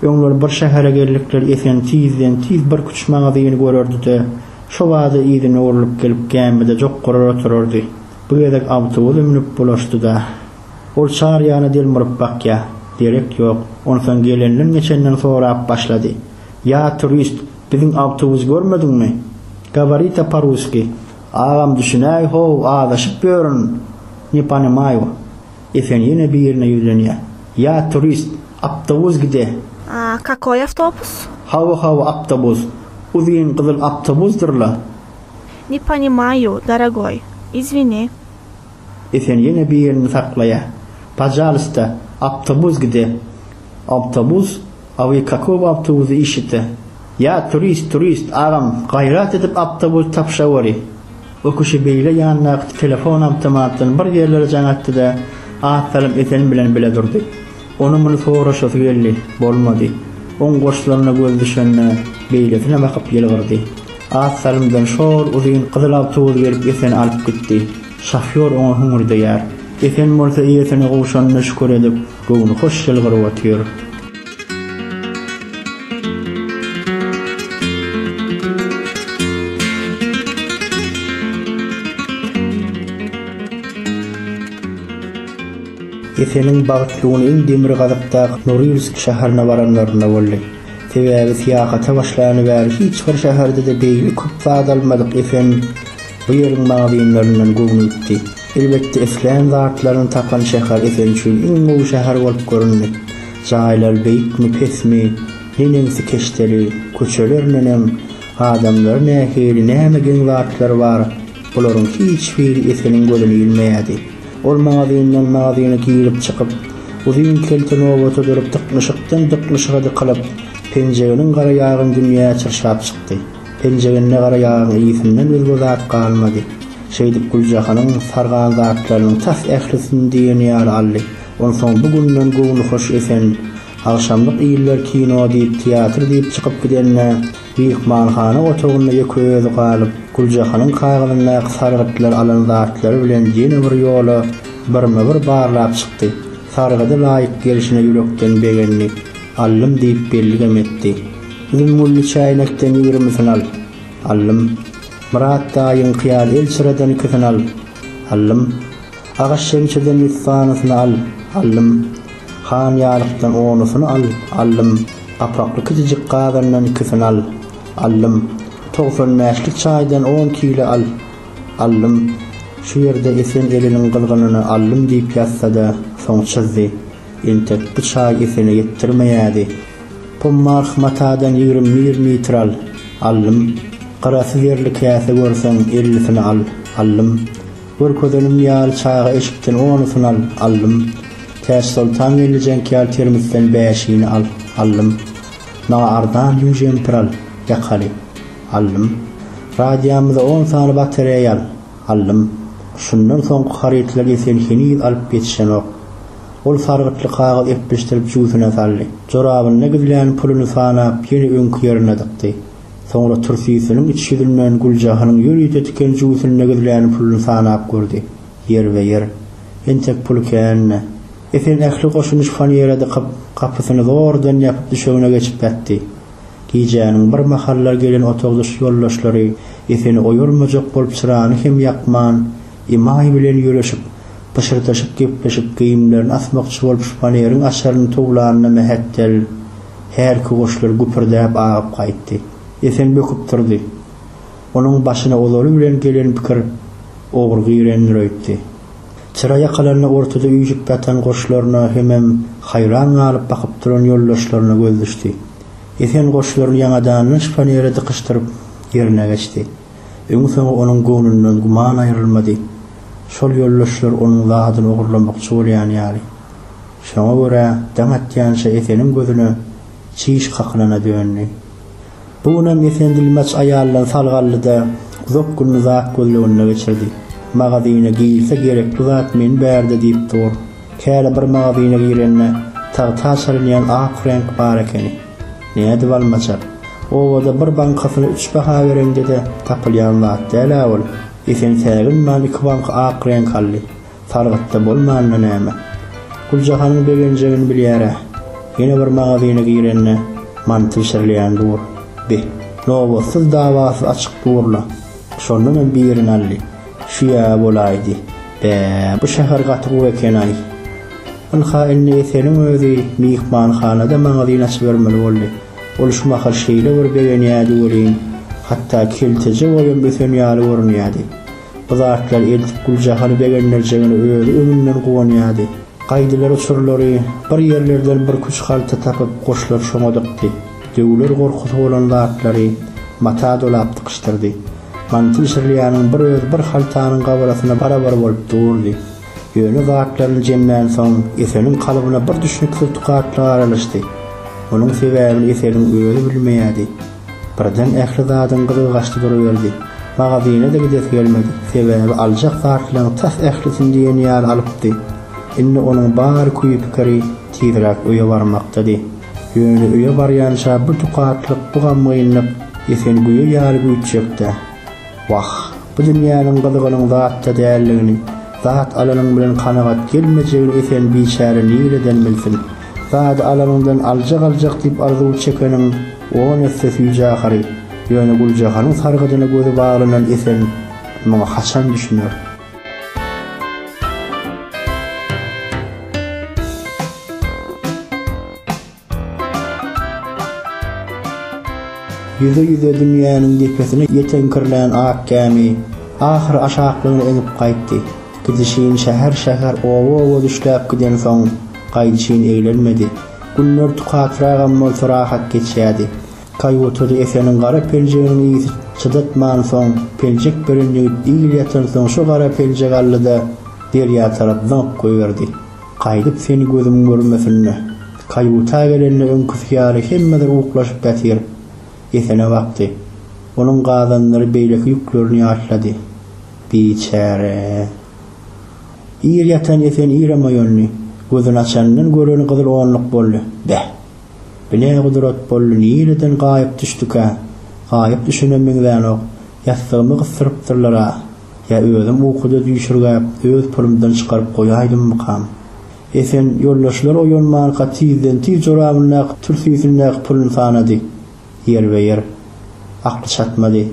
Öňler bir şähere geldikleri Esen tizden-tiz bir küçük magazyny görerdi-de, şo bada yzyna orlup gelip gämide jokgarar oturardy. Bu gezek awtobusa münüp bulaşdy-da. Ol çar ýana delmuryp bakýar. Derek ýok. Onsoň gelenden-geçenden sorap başlady. Ýa, turist, biziň awtobusy görmediňmi? Gaworite po-russki. Agam, düşünäý, how, azaşyp ýörün. Ne ponimaju. Esen ýene birine ýüzlenýä. Ýa turist, awtobus gide! A kakoý awtobus? Hawa, hawa, awtobus. Uzyn gyzyl awtobusdyr-la. Ne ponimaýu, daragoý. Izwini. Esen ýene birini saklaýa. Pajalysta, awtobus gide! Awtobus, A wy kakow awtobuzy işite? Ýa turist, turist, agam, gaýrat edip awtobus tapşaweri! Bu kişi beýle ýandaky telefon awtomatyny bir ýerlere jaň atdy-da, az salym Esen bilen bile durdy. Onuň muny soraşasy geldi, bolmady. Oň goşlaryna gözi düşende, beýlesine bakyp ýylgyrdy. Az salymdan şol uzyn gyzyl awtobus gelip Eseni alyp gitdi. Şofýor oňa hüňürdeýär. Esen bolsa eýesine gowşanyna şükür edip, Göwni hoş ýylgyryp otyr. Eseniň bagtly güni iň demirgazykdaky Norilsk şäherine baranlarynda boldy. Sebäbi syýahata başlany bäri hiç bir şäherde-de beýle köp zat almadyk Esen bu ýeriň magazynlaryndan göwni gitdi. Elbetde islän zatlaryny tapan şäher sen üçin iň gowy şäher bolup göründi. Jaýlar beýikmi, pesmi, neneňsi keşdeli, köçeler neneň, adamlary nähili, näme geň zatlary bar, bularyň hiç biri Eseniň gözüne ilmeýärdi. Ol magazyndan magazyna girip çykyp, uzyn kelte nobata durup dyknyşykdan dyknyşyga dykylyp, penjeginiň garaýagyn dünýä çyrşap çykdy. Penjeginde gara ýagyň ysyndan özge zat galmady. Şeýdip Güljahanyň sargan zatlarynyň tas ählisini diýen ýaly aldy. Onsoň bu günden göwnühoş Esen, agşamlyk iller kino diýip, teatr diýip çykyp gidende, myhmanhana otagynda ýeke özi galyp, Güljahanyň kagyzyndaky sargytlar alan zatlary bilen ýene bir ýola birme-bir barlap çykdy. Sargydy laýyk gelşine ýürekden begendi. Allym diýip belligem etdi. Üzüm gülli çäýnekden ýigrimisini al. Allym, Myrat daýyňky ýaly elçireden ikisini al. Allym, Agaç şemşeden ýüz sanysyny al. Allym, Han ýalykdan onusyny al. Allym, Gapakly kiçijik gazandan ikisini al. Allym, Togsan bäşlik çaýdan on kile al. Allym, Şu ýerde Esen Eliniň gyzgynyny Allym diýip ýazsa-da, soň çyzdy. Entek bu çaý Esene ýetdirmeýädi. Pommarh matadan ýigrimi bir mitr al, allym. Gyrasy zerli käse görseň, ellisini al, allym. Görkezenim ýaly çaýga eşikden onusyny al, allym. Täçsoltan gelnejeňki ýaly termosdan bäşini al, allym. Maňa arzan ýüň jempir al, ýakaly, allym. Radiýamyza on sany batareýa al. Aldym. Şundan soňky harytlary sen heniz alyp ýetişenok. Ol sargytly kagyz epleşdirip jübüsine saldy. Jorabynda gizlän puluny sanap, ýene öňki ýerine dykdy. Soňra türsüsiniň iç ýüzünden Güljahanyň ýörite tiken jübüsinde gizlän puluny sanap gördi. Ýerbe-ýer. Entek puly kän-dä. Esen ähli goşuny şifonýere dykyp, gapysyny zordan ýapyp düşegine geçip ýatdy. Gijäniň bir mahallar gelen otagdaş ýoldaşlary Eseni oýarmajak bolup çyrany hem ýakman, Imaý bilen ýöreşip, pyşyrdaşyp gepleşip geýimlerini asmakçy bolup şpaneriň açaryny towlanyna mähetdel hälki goşlar güpürdäp agyp gaýtdy. Esen böküp turdy. Onuň başyna ozaly bilen gelen pikir ogry girendir öýtdi. Çyra ýakalaryna ortada üýşüp ýatan goşlaryna hemem haýran galyp bakyp duran ýoldaşlaryna göz düşdi. Esen goşlaryny ýaňadandan şifonere dykyşdyryp, ýerine geçdi. Öňi-soňy onuň göwnünden güman aýrylmady. Şol ýoldaşlar onuň zadyny ogurlamakçy bolýan ýaly. Şoňa görä, daň atýança Eseniň gözüne çiş kakylana döndi. Bu günem Efendilmaç aýaldan salgally-da, uzak gününi zat gözleginde geçirdi. Magazyna girse gerekli zat meni bärde diýip dur. Käre bir magazyna girende, tagta çalynýan ak reňk bar ekeni. Nädip almaçak? Obada bir bankasyny üç baha bereňde-de, tapylýan zat däl-ä ol. Esen säginman iki banka ak reňk aldy. Sargytda bolmanda näme? Güljahanyň begenjegini bilýär-ä. Ýene bir magazyna girende, manty bişirilýän dur. Bi. Nobatsyz dawasyz açyk dur-la. Şondan hem birini aldy. Şu ýa bolaýdy. Bä, bu şäher gaty gowy eken-aý. Ynha, indi Eseliň özi myhmanhanada magazyn açybermeli boldy. Ol şu mahal şeýle bir begenýärdi welin, hatda kelteje boýam ösen ýaly görünýärdi. Bu zatlary eltip Güljahany begendirjegine özi öňünden guwanýardy. Gaýdylar uçurlary, bir ýerlerden bir küç halta tapyp goşlar şoňa dykdy. Döwüler gorkusy bolan zatlary mata dolap dykyşdyrdy. Mantyl Şirliýanyň bir özi bir haltanyň gabarasyna barabar bolup durdy. Ýöne zatlaryny jemlänsoň Eseliň kalbyna bir düşnüksiz tukatlyk aralaşdy. Munuň sebäbini Eseliň özi bilmeýärdi. Birden ähli zadyň gyzy gaçdy duruberdi. Magazine-de gidesi gelmedi. Sebäbi aljak zatlaryň tas ählisini diýen ýaly alypdy. Indi onuň bar küýi-pikiri tizräk öýe barmakdydy. Ýöne öýe barýança bu tukatlyk, bu gamgynlyk esen güýe ýaly güýtjek-dä. Wah, bu dünýäniň gyzygynyň zatda däldigini, zat alanyň bilen kanagat gelmejegini esen biçäre nireden bilsin? Zady alanyňdan aljak-aljak diýip arzuw çekeniň, On esse süýji ahary, ýöne Güljahanyň sargydyna gözi baglanan Esen muňa haçan düşüner? Ýüze-ýüze dünýäniň depesine ýeteňkirlän ak gämi, ahyry aşaklygyna eňip gaýtdy. Gidişin şäher-şäher, oba-oba düşläp gidensoň, gaýdyşyn eglenmedi. Günler tukatragam bolsa rahat geçýärdi. Kaýutada Eseniň gara peljeginiň ysy çydatmansoň, peljek beren ýigit il ýatansoň şo gara peljegi aldy-da, derýa tarap zyňyp goýberdi. Gaýdyp seni gözüm görmesin-le. Kaýuta gelende öňküsi ýaly hemme zat uklaşyp ýatyr. Esene bakdy. Onuň gazanlary beýleki ýüklerini ýatlady. Biçäre. Ir ýatan esen irem oýandy. Gözüni açandan göreni gyzyl onluk boldy. Beh! Bu ne gudrat boldy, nireden gaýyp düşdükä? Gaýyp düşene meňzänok. Ýassygymy gysdyrypdyrlar-a? Ýa özüm ukuda düýşürgäp, öz pulumdan çykaryp goýaýdymmykam? Esen ýoldaşlar oýanmanka tizden-tiz jorabyndaky türsüsindäki puluny sanady. ýerbe-ýer akly çatmady.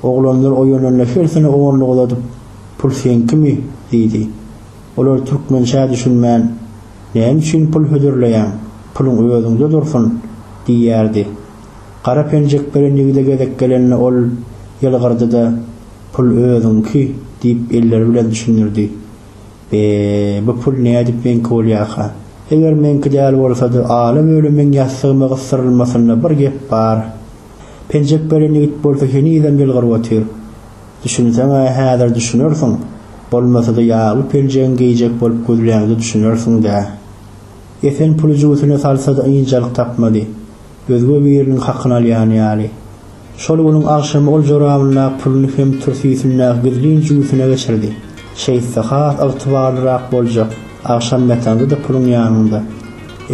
Oglanlar oýananda hersini onluk uzadyp, Pul seňkimi? diýdi. Olar türkmençä düşünmän, Näme üçin pul hödürleýäň? Puluň özüňde dursun! diýerdi. Gara penjek beren ýigide gezek gelende ol ýylgyrdy-da, Pul özüňki! diýip elleri bilen düşündirdi. Eee, bu pul nädip meňki bolýarka? Eger meňki däl bolsady, Alym ölümiň ýassygyma gysdyrylmasynda bir gep bar. Penjek beren ýigit bolsa henizem ýylgyryp otyr. Düşünseň-ä häzir düşünersiň, bolmasa-da ýagly penjegiň geýjek bolup gözläňde düşünersiň-dä. Esen puly jübüsine salsa-da ynjalyk tapmady. Özge biriniň hakyny alýan ýaly. Şol günüň agşamy ol jorabyndaky puluny hem türsüsindäki gizlin jübüsine geçirdi. Şeýtse has ygtybarlyrak boljak, agşam ýatanda-da puluň ýanyňda.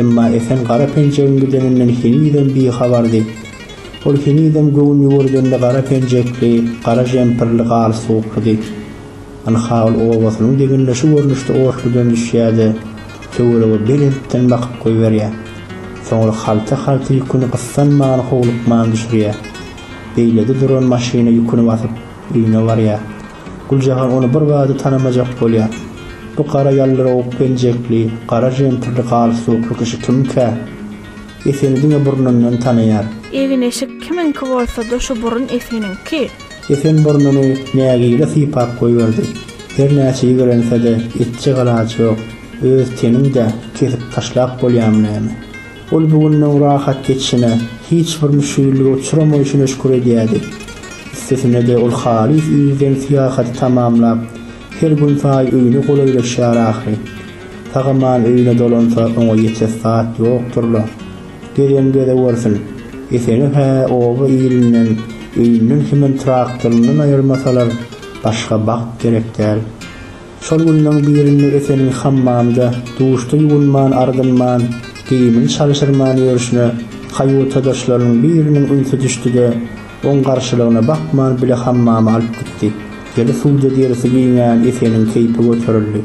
Emma Esen gara penjegiň gideninden henizem bihabardy. Ol henizem göwün ýüwürdende gara penjekli, gara žempirli galy sowuklydy. Ynha, ol obasynyň deginde şu görnüşde otludan düşýärdi. töwerege belentden bakyp goýberýär. Soňra halta-halta ýüküni gyssanman, howlukman düşürýär. Beýlede duran maşyna ýüküni basyp, öýüne barýar. Güljahan ony birbada tanamajak bolýar. Bu gara ýaldyrawuk geljekli, gara jentirli galstukly kişi kimkä? Eseni diňe burnundan tanaýar. Egin-eşik kimiňki bolsa-da şu burun Eseniňki. Esen burnuny nägile sypap goýberdi. Hernäçe ýigrense-de etjek alaç ýok. Öz teniň-dä kesip taşlap bolýamy näme? Ol bu gününiň rahat geçişine hiç bir müşgillige uçramaýşyna şükür edýärdi. Üstesine-de ol halys yzdan syýahaty tamamlap, her günsaýy öýüne golaýlaşýar ahyry. Sag-aman öýüne dolansa oňa ýetes zat ýokdur-la. Gelýän gezek bolsun, Eseni-hä oba ilinden, öýünden hemem traktoryndan aýyrmasalar, başga bagt gerek däl. Şol günleň birinde Eseniň hammamda, duşda ýuwunman-ardynman, geýimini çalşyrman ýörşüne kaýutadaşlarynyň biriniň ünsi düşdi-de, oň garşylygyna bakman bile hammama alyp gitdi. Deli suwda derisi giňän Eseniň keýpi göterildi.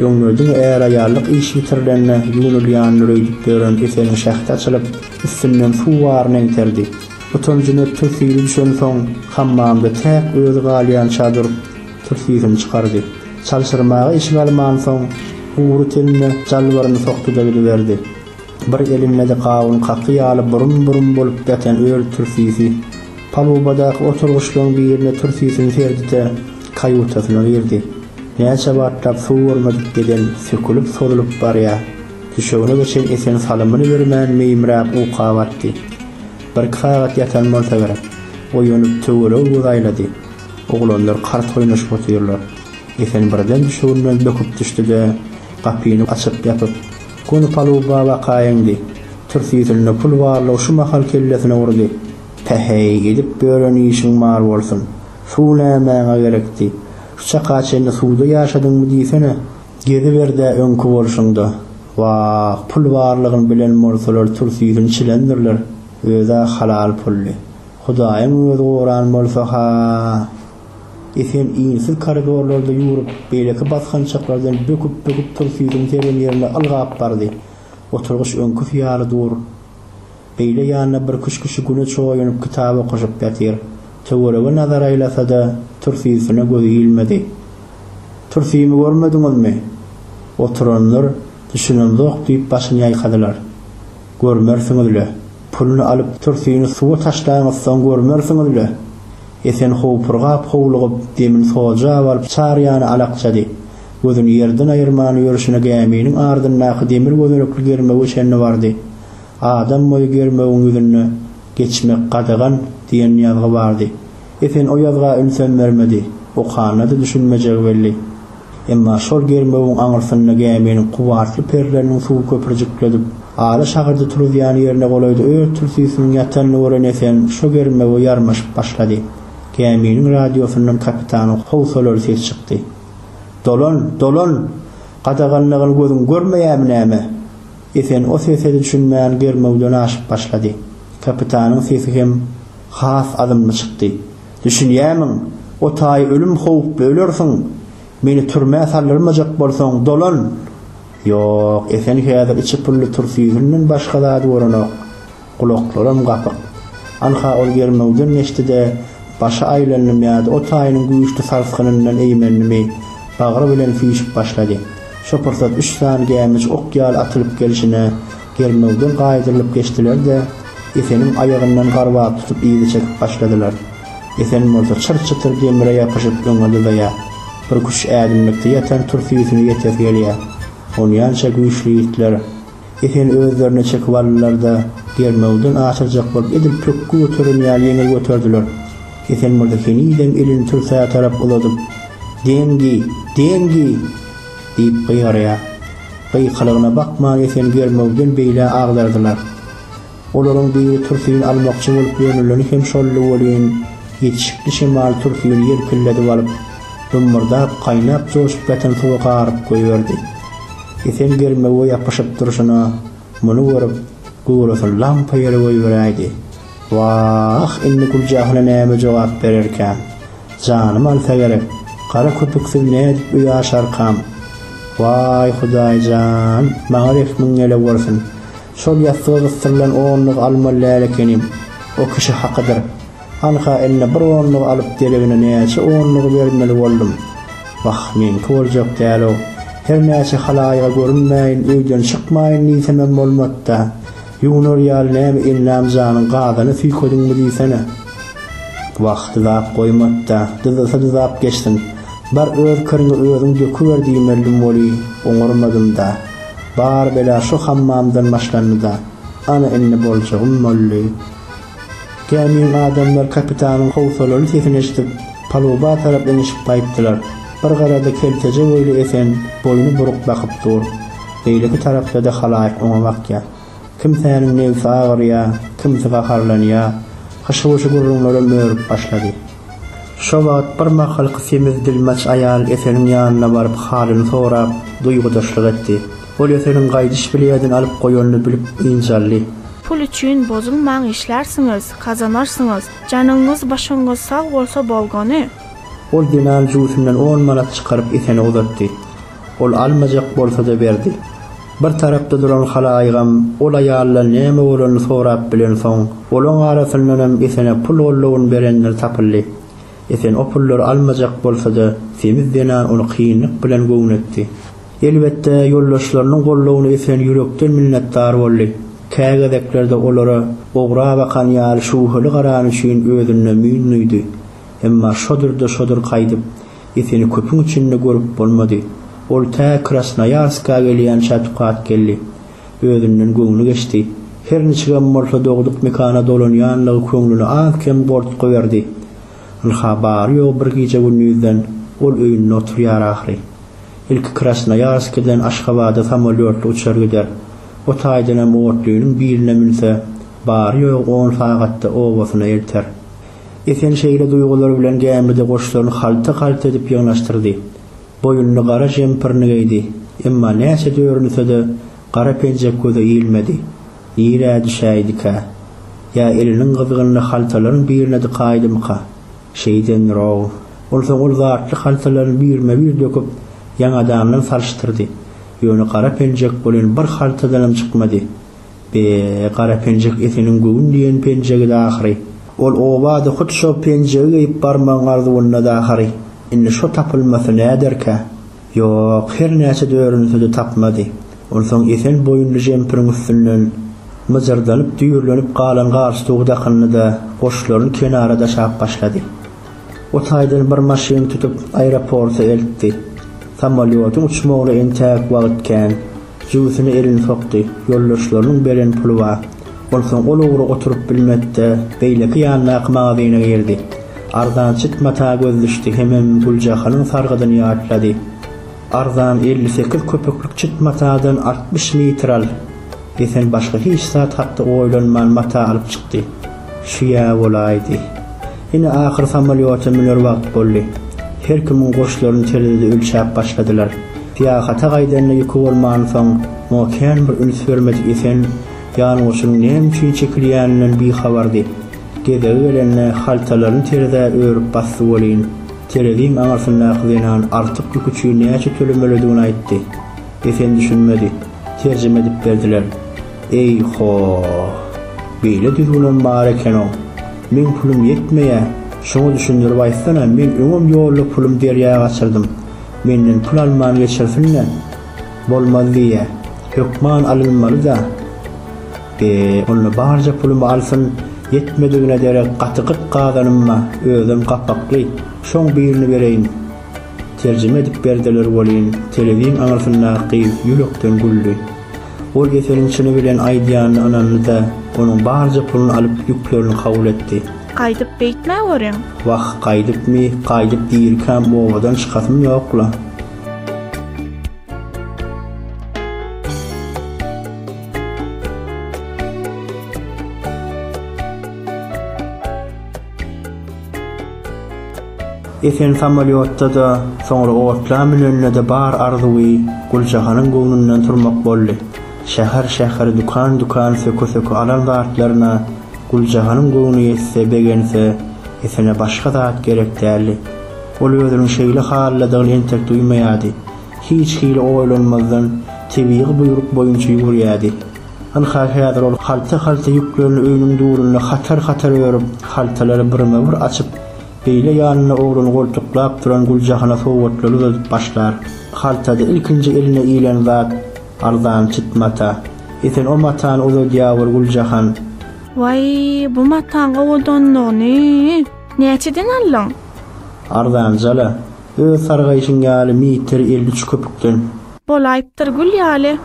Öňler diňe är-aýallyk işi bitirilende ýuwnulýandyr öýdüp ýören Eseniň şähdi açylyp, üstünden suw baryny eňterdi. Utanjyny ötdür syry düşensoň, hammamda täk özi galýança durup, türsiýsini çykardy. Çalşyrmaga işik almansoň, gury tenine jalbaryny sokdy-da gidiberdi. Bir elinde-de gawun kaky ýaly burum-burum bolup ýatan öl türsisi. Palubadaky oturgyçlaryň birine türtisini serdide kaýutasyna girdi. Näçe wagtlap suw görmedik beden sökülip-sozulyp barýar. Düşegine geçen Esen salymyny bermän meýimräp uka batdy. Birki sagat ýatan bolsa gerek. Oýanyp töweregi göz aýlady. Oglanlar kart oýnaşyp otyrlar. Esen birden düşeginden böküp düşdi-de, gapyny açyp-ýapyp, göni paluba bakaýyňdy. Türtisinde pul barlygy şu mahal kellesine urdy. Päheý, edip ýören işiň bar bolsun. Suw nämäňe gerekdi? Şu çaka çenli suwda ýaşadyňmy diýsene. Geziber-dä öňki bolşuňda. Wah, pul barlygyny bilen bolsalar tursyýsini çilendirler. Öz-ä halal puldy. Hudaýyň özi goran bolsa-ha! E sen insiz koridorlarda ýüwrüp, beýleki basgançaklardan böküp-böküp tursyýsini seren ýerine ylgap bardy. Oturgyç öňküsi ýaly dur. Beýle ýanyna bir küşküşi güne çoýunyp kitap okaşyp ýatyr. Töwerege nazar aýlasa-da, türsüsine gözi ilmedi. Türsümi görmediňizmi? Oturanlar düşünemzok diýip başyny ýaýkadylar. Görmersiňiz-le. Puluny alyp türsüni suwa taşlaňyzsoň görmersiňiz-le. Esen howpurgap-howlugyp demini soja baryp çar ýana alakjady. Gözüni ýerden aýyrman ýörşüne gäminiň ardyndaky demir gözenekli germewe çenli bardy. Adam boýy germewiň ýüzünde Geçmek gadagan diýen ýazgy bardy. Esen o ýazga ünsem bermedi. Okanyna-da düşünmejegi belli. Emma şol germewiň aňyrsynda gäminiň kubarsly perleriniň suwy köpürjikledip, ara şagyrdy turuzýan ýerine golaýda öz türtisiniň ýatanyny gören Esen şo germewe ýarmaşyp başlady. Gäminiň radiosyndan kapitanyň howsalaly sesi çykdy. Dolan, dolan! Gadaganlygyny gözüň görmeýärmi näme? Esen o sese-de düşünmän germewden aşyp başlady. Kapitanyň sesi hem has azymly çykdy. Düşünýämiň? O taýy ölüm howply ölersiň! Meni türmä saldyrmajak bolsaň, dolan! Ýok, Esen häzir içi pully tursýüzünden başga zady görenok. Gulaklaram gapyk. Anha ol germewden geçdi-de, başy aýlandymy ýa-da o taýynyň güýçli sarsgynyndan eýmendimi, bagry bilen süýşüp başlady. Şo pursat üç sany gämiç ok ýaly atylyp gelşine, germewden gaýdyrylyp geçdiler-de, Eseniň aýagyndan garbap tutup yzy çekip başladylar. Esen bolsa çyr-çytyr demire ýapyşyp öňe dyzaýar. Birküç ädimlikde ýatan tursysuna ýetesi gelýär. Onýança güýçli ýigitler Esen özlerine çekip aldylar-da, germewden aşyrjak bolup edil pökgi göteren ýaly ýeňil göterdiler. Esen Mürze henizem elini türsä tarap uzadyp, Deňgi! Deňgi! diýip gygyrýar. Gykylygyna bakman Esen germewden beýle agdardylar. Olaryň biri Tursyny almakçy bolup ýörüleni hem şoldy welin, ýetişikli şemal Tursyny ýelpildedip alyp, dummurdap, gaýnap joşup ýatan suwa garyp goýberdi. Esen germewe ýapyşyp durşuna, muny görüp, gurasyny lampa ýere goýberäýdi. Wah, indi Güljahyna näme jogap bererkäm? Janym alsa gerek, gara köpüksiz nädip öý aşarkam? Waý, Hudaý jan, maňa rehmiň gelewersin! Şol ýassyga gysdyrylan onluk alma läl ekenim, o kişi hakydyr. Anha indi bir onlugy alyp deregine näçe onlugy bermeli boldum. Wah, meňki boljak däl-ow. Her näçe halaýyga görünmäýin, öýden çykmaýyn diýsemem bolmady-da. Ýuwnar ýaly näme elnam janyň gazana süýkediňmi diýsene. Wah, dyzap goýmady-da, dyzasa-dyzap geçsin. Bar öz kiriňi özüň döküber diýmeldim weli, oňarmadym-da. Bar bela şu hammamdan başlandy-da. Ana indi boljagym boldy. Gämiň adamlary kapitanyň howsalaly sesini eşidip, paluba tarap eňişip gaýtdylar. Bir garada kelteje boýly Esen boýny buruk bakyp dur. Beýleki tarapda-da halaýyk oňa bakýar. Kimsäniň nebsi agyrýar, kimsi gaharlanýar. Hyşy-wyşy gürrüňlerem örüp başlady. Şo wagt birmahalky semiz dilmaç aýal Eseniň ýanyna baryp halyny sorap, duýgudaşlyk etdi. Ol Eseniň gaýdyş bileýdini alyp goýanyny bilip ynjaldy. Pul üçin bozulmaň işlärsiňiz, gazanarsyňyz. Janyňyz başyňyz sag bolsa bolgany. Ol zenan jübüsinden on manat çykaryp Esene uzatdy. Ol almajak bolsa-da berdi. Bir tarapda duran halaýygam ol aýaldan näme bolanyny sorap bilensoň, olaň arasyndanam Esene pul gollawyn berenler tapyldy. Esen o pullary almajak bolsa-da, semiz zenan ony kynlyk bilen göwnetdi. Elbetde, ýoldaşlarynyň gollawyna Esen ýürekden minnetdar boldy. Kä gezeklerde olara ogra bakan ýaly şübheli garany üçin özünde müýn duýdy. Emma şodurda-şodur gaýdyp. Eseli köpüň içinde görüp bolmady. Ol tä Krasnoýarska gelýänçä tukat geldi. Özünden göwni geçdi. Her niçigem bolsa dogduk mekana dolanýanlygy köňlüne az-kem gortgy berdi. Ynha bary-ýogy bir gije-gündizden ol öýünde oturýar ahyry. Ilki Krasnoýarskiden Aşgabada samolýotly uçar gider. O taýdanam otlynyň birine münse, bary-ýogy on sagatda obasyna elter. Esen şeýle duýgular bilen gämide goşlaryny halta-halta edip ýygnaşdyrdy. Boýunly gara žempirini geýdi, emma näçe dörünse-de, gara penjek göze ilmedi. Nirä düşäýdikä? Ýa eliniň gyzgynyny haltalaryň birine dykaýdymyka? Şeýdendir-ow. Onsoň ol zatly haltalaryny birme-bir döküp, ýaňadandan salyşdyrdy. Ýöne gara penjek welin bir haltadanam çykmady. Be, gara penjek Eseniň göwün diýen penjegidi ahyry. Ol oba-da hut şo penjegi geýip barmagyň arzuwynda-da ahyry. Indi şo tapylmasy näderkä? Ýok, hernäçe dörünse-de tapmady. Onsoň Esen boýunly jempiriň üstünden myjyrdanyp-düýrlenip galan galstugy dakyndy-da, goşlaryny kenara daşap başlady. O taýdan bir maşyn tutup aeroporta eltdi. Samolýodyň uçmagyna entäk wagt kän. Jübüsine elini sokdy. Ýoldaşlarynyň beren puly bar. Onsoň ol ugra oturyp bilmedi-de, beýleki ýandaky magazyna girdi. Arzançyt mata göz düşdi hemem Güljahanyň sargydyny ýatlady. Arzan elli sekiz köpüklik çit matadan altmyş mitral desen başga hiç zat hakda oýlanman mata alyp çykdy. Şu-ýa bolaýdy. Ine ahyr samolýota müner wagt boldy. Her kimiň goşlaryny terezide ölçäp başladylar. Syýahata gaýdanyna ýüki bolmansoň muňa kän bir üns bermedik Esen ýangoçunyň näme üçin çekilýäninden bihabardy. Gezegi gelende haltalaryny terezä örüp basdy welin, Tereziň aňyrsyndaky zenan artyk ýük üçin näçe tölemelidigini aýtdy. Esen düşünmedi. Terjime edip berdiler. Eý-ho-h! Beýle düzgünem bar eken-ow! Meň pulum ýetmeýä, şoňa düşündirip aýtsana, men öňem ýolda pulum derýa gaçyrdym. Menden pul alman geçirsin-le! Bolmaz diýýä. Hökman alynmaly-da! Be, onda barja pulumy alsyn, ýetmedigine derek gaty gyt gazanymma, özem gapakly, şoň birini bereýin. Terjime edip berdiler welin, telezin aňyrsyndaky gyz ýürekden güldi. Ol Eseniň çyny bilen aýdýanyna ynandy-da, onuň barja puluny alyp, ýüklerini kabul etdi. Gaýdyp beýtmä görüň. Wah, gaýdypmy, gaýdyp dirikäm obadan çykasym ýok-la. Esen samolýotda-da, soňra otla münende-de bar arzuwy Güljahanyň göwnünden turmak boldy. Şäher-şäher, dükan-dükan söke-söke alan zatlaryna Güljahanyň göwni ýetse, begense, Esene başga zat gerek däldi. Ol özüniň şeýle halydadygyny entek duýmaýardy. Hiç hili oýlanmazdan, tebigy buýruk boýunça ýüwürýärdi. Ynha, häzir ol halta-halta ýüklerini öýüniň durunda hatar-hatar örüp, haltalary birme-bir açyp, beýle ýanynda ogluny goltuklap duran Güljahana sowgatlary uzadyp başlar. Haltada ilkinji eline ilen zat, arzan çit mata. Esen o matany uzadýar bir Güljahan. Waý, bu mataň owadanlygyny! Näçeden aldyň? Arzan jala, öz sargaýşyň ýaly meter elli üç köpükden. Bolaýypdyr gül ýaly.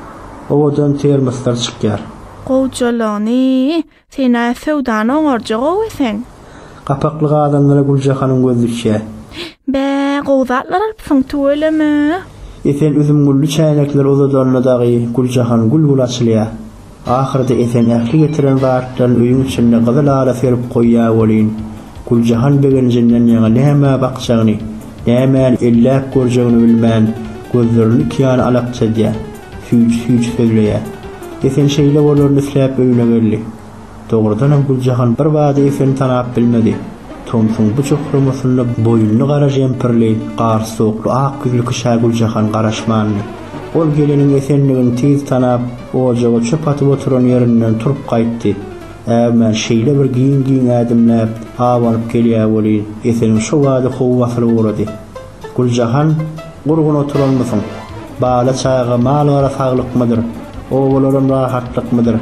Owadan termoslar çykýar. Gowjalygyny, sen-ä söwdany oňarja gowy eseň. Gapakly gazanlara Güljahanyň gözi düşýär. Bä, gowy zatlar alypsyň, tüweleme. Esen üzümgülli çäýnekleri uzadanda dagy Güljahan gül-gül açylýar. Ahyrda Esen ähli getiren zatlaryny öýüň içinde gyzyl-ala serip goýýar welin, Güljahan begenjinden ýaňa nämä bakjagyny, nämäni elläp görjegini bilmän, gözlerini iki ýana alakjadýar, süýji-süýji sözleýär. Esen şeýle bolaryny isläp öýüne geldi. Dogrudanam Güljahan birbada Eseni tanap bilmedi. Tomsuň bu jokramasynda boýunly gara jempirli, garsy-sowukly ak ýüzli kişä Güljahan garaşmandy. Ol geliniň esenligini tiz tanap, ojaga çöp atyp oturan ýerinden turup gaýtdy. Äwmän, şeýle bir giň-giň ädimläp, abanyp gelýär welin, Eseniň şo bada howy basylyp ugrady. Güljahan, gurgun oturanmysyň? Bala-çaga, mal-gara saglykmydyr? Obalaram rahatlykmydyr?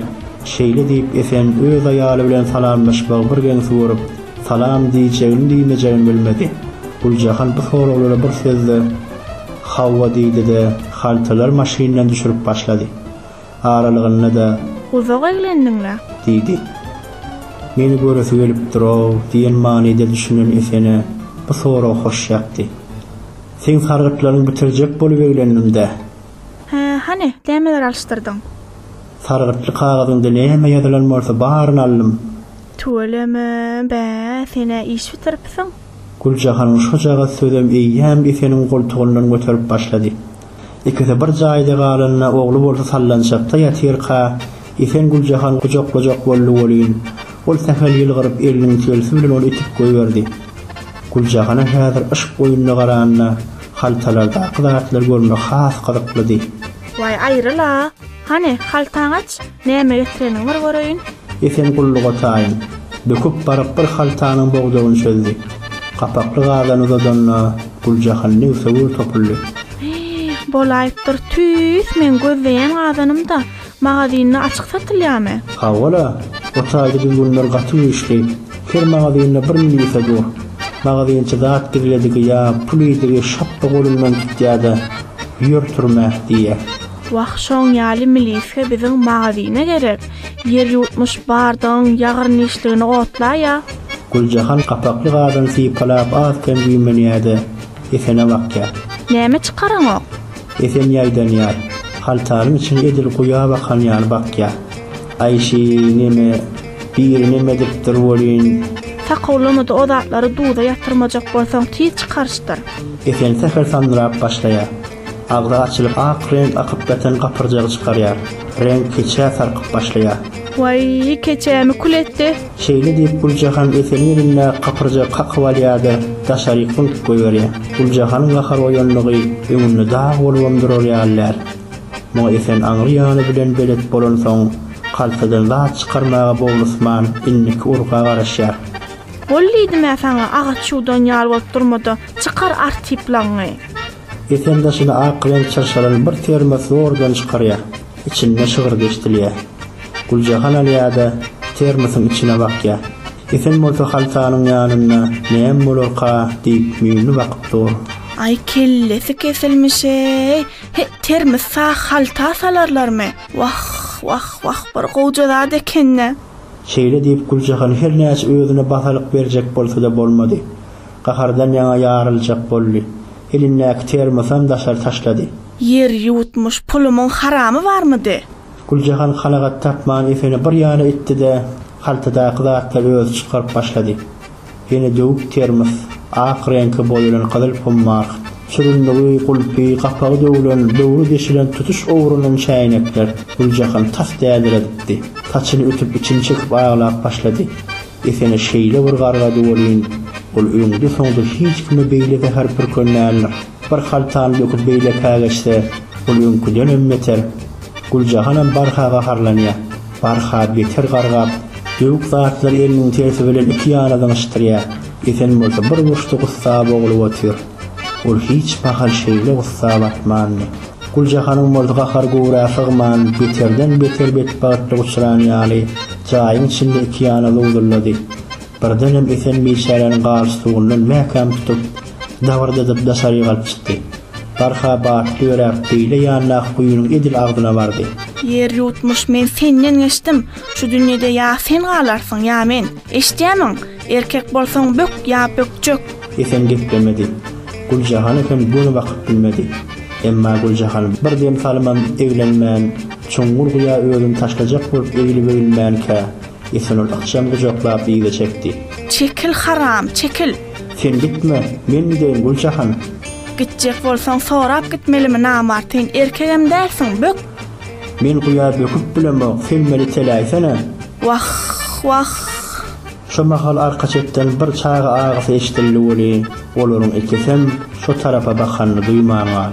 Şeýle diýip, Esen öz aýaly bilen salamlaşmagy bir geňsi görüp, salam diýjegini-diýmejegini bilmedi. Güljahan bu soraglara bir söz-de. Hawa diýdi-de, haltalar maşyndan düşürip başlady. Aralygynda-da. Uzak eglendiň-le? Diýdi. Meni göresi gelipdir-ow diýen manyda düşünen Esene bu sorag hoş ýakdy. Seň sargytlaryňy bitirjek bolup eglendim-dä. Hä, hany, nämeler alyşdyrdyň? Sargytly kagyzyňda näme ýazylan bolsa baryny aldym. Tüweleme, bä, sen-ä iş bitiripsiň. Güljahanyň şojagaz sözem eýýäm Eseniň goltugyndan göterip başlady. Ikisi bir jaýda galanda, ogly bolsa sallançakda ýatyrka, Esen Güljahany gujaklajak boldy welin, ol sähel ýylgyryp, eliniň telsi bilen ony itip goýberdi. Güljahana häzir yşk oýnuna garanda, haltalardaky zatlar görmek has gyzyklydy. Waý, aýryl-a! Hany, haltaňy aç! Näme getireniňi bir göreýin. Esen gulluga taýyn. Böküp baryp bir haltanyň bogdagyny çözdi. Gapakly gazany uzadanda Güljahan nigse gür topuldy. Hih, bolaýypdyr. Tüýs, meň gözleýän gazanym-da magazinde açyk satylýamy? Hawa-la, o taýda biz günler gaty güýçli. Her magazinde bir milise dur. Magazinçi zat gizledigi ýa pul idigi şapba golundan tutýa-da, Ýör türmä! diýýä. Wah şoň ýaly miliska biziň magazine gerek, ýer ýutmuş bardygyň ýagyrnyşligini otlaýa. Güljahan gapakly gazyny sypalap az kem güýmenýäde Esene bakýar. Näme çykaraňok? Esen ýaýdanýar. Haltanyň içini edil guýa bakan ýaly bakýar. Aý şi neme, biri nemedipdir welin. Sakawlamada o zatlary duza ýatyrmajak bolsaň tiz çykaryşdyr. Esen sähel sandyrap başlaýar. Agzy açylyp ak reňk akyp beten gapyrjagy çykarýar. Reňk keçä sarkyp başlaýar. Waýý, keçämi kül etdi. Şeýle diýip Güljahan Eseliň elindäki gapyrjagy kakyp alýar-da, daşaryk zyňkyp goýberýär. Güljahanyň gahar oýandygy öňünde dag bolubam durar ýaly däl. Muňa Esen aňry ýany bilen belet bolansoň, kaltadan zat çykarmaga bowlusman indiki urga garaşýar. Bol diýdim-ä saňa, agaç ýuwdan ýaly bolup durma-da, çykar artyplagyňy! Esen daşyny ak reňk çyrşalan bir termos zordan çykarýar. Içinde şygyrdy eşdilýär. Güljahan alýa-da, termosyň içine bakýar. Esen bolsa haltanyň ýanynda Näme bolarka? diýip, müýnli bakyp dur. Aý, kellesi kesilmiş-eý! He, termos-a halta salarlarmy? Wah, wah, wah, bir gowja zat eken-dä! Şeýle diýip, Güljahan hernäçe özüne basalyk berjek bolsa-da bolmady. Gahardan ýaňa ýaryljak boldy. Elindäki termosam daşary taşlady. Ýer ýuwutmyş pulumyň haramy barmydy? Güljahan kanagat tapman Efeni bir ýana itdi-de, haltadaky zatlary özi çykaryp başlady. Ýene döwük termos, ak reňke boýalan gyzyl pummark, çürünligi, gulpy, gapagy döwlen, böwri deşilen tutuş owralan çäýnekler. Güljahan tas däliredipdi. Saçyny ütüp, içini çekip aglap başlady. Desene şeýle bir gargady welin, ol öňde-soňda hiç kime beýle zäher pürkendändir. Bir haltany döküp beýlekä geçse, ol öňküdenem beter. Güljahanam barha gaharlanýar. Barha beter gargap, döwük zatlary eliniň tersi bilen iki ýana zyňyşdyrýar. Esen bolsa bir burçda gussa boglup otyr. Ol hiç mahal şeýle gussa batmandy. Güljahanyň bolsa gahary göwrä sygman, beterden-beter betbagtlyga uçran ýaly, jaýyň içinde iki ýana zowzullady. Birdenem Esen biçäräni galstukyndan mäkäm tutup, dabyrdadyp daşary ýygalyp çykdy. Barha batly ýöräp, beýle ýandaky guýynyň edil agzyna bardy. Ýer ýutmuş, men senden geçdim. Şu dünýede ýa sen galarsyň, ýa men. Eşidýämiň? Erkek bolsaň bök ýa bökjek. Esen geplemedi. Güljahan hem göni bakyp bilmedi. Emma Güljahan bir dem salymam eglenmän, çuňňur guýa özüni taşlajak bolup eglibegilmänkä, Esen ol ykjam gujaklap yza çekdi. Çekil, haram, çekil! Sen gitme, men gideýin, Güljahan! Gitjek bolsaň sorap gitmelimi namartyn, erkegem dälsiň, bök! Men guýa böküp bilemok, selmeli teläýsene! Wah, wah! Şo mahal arka çetden bir çaga agysy eşidildi weli, olaryň ikisem şo tarapa bakanyny duýman galdy.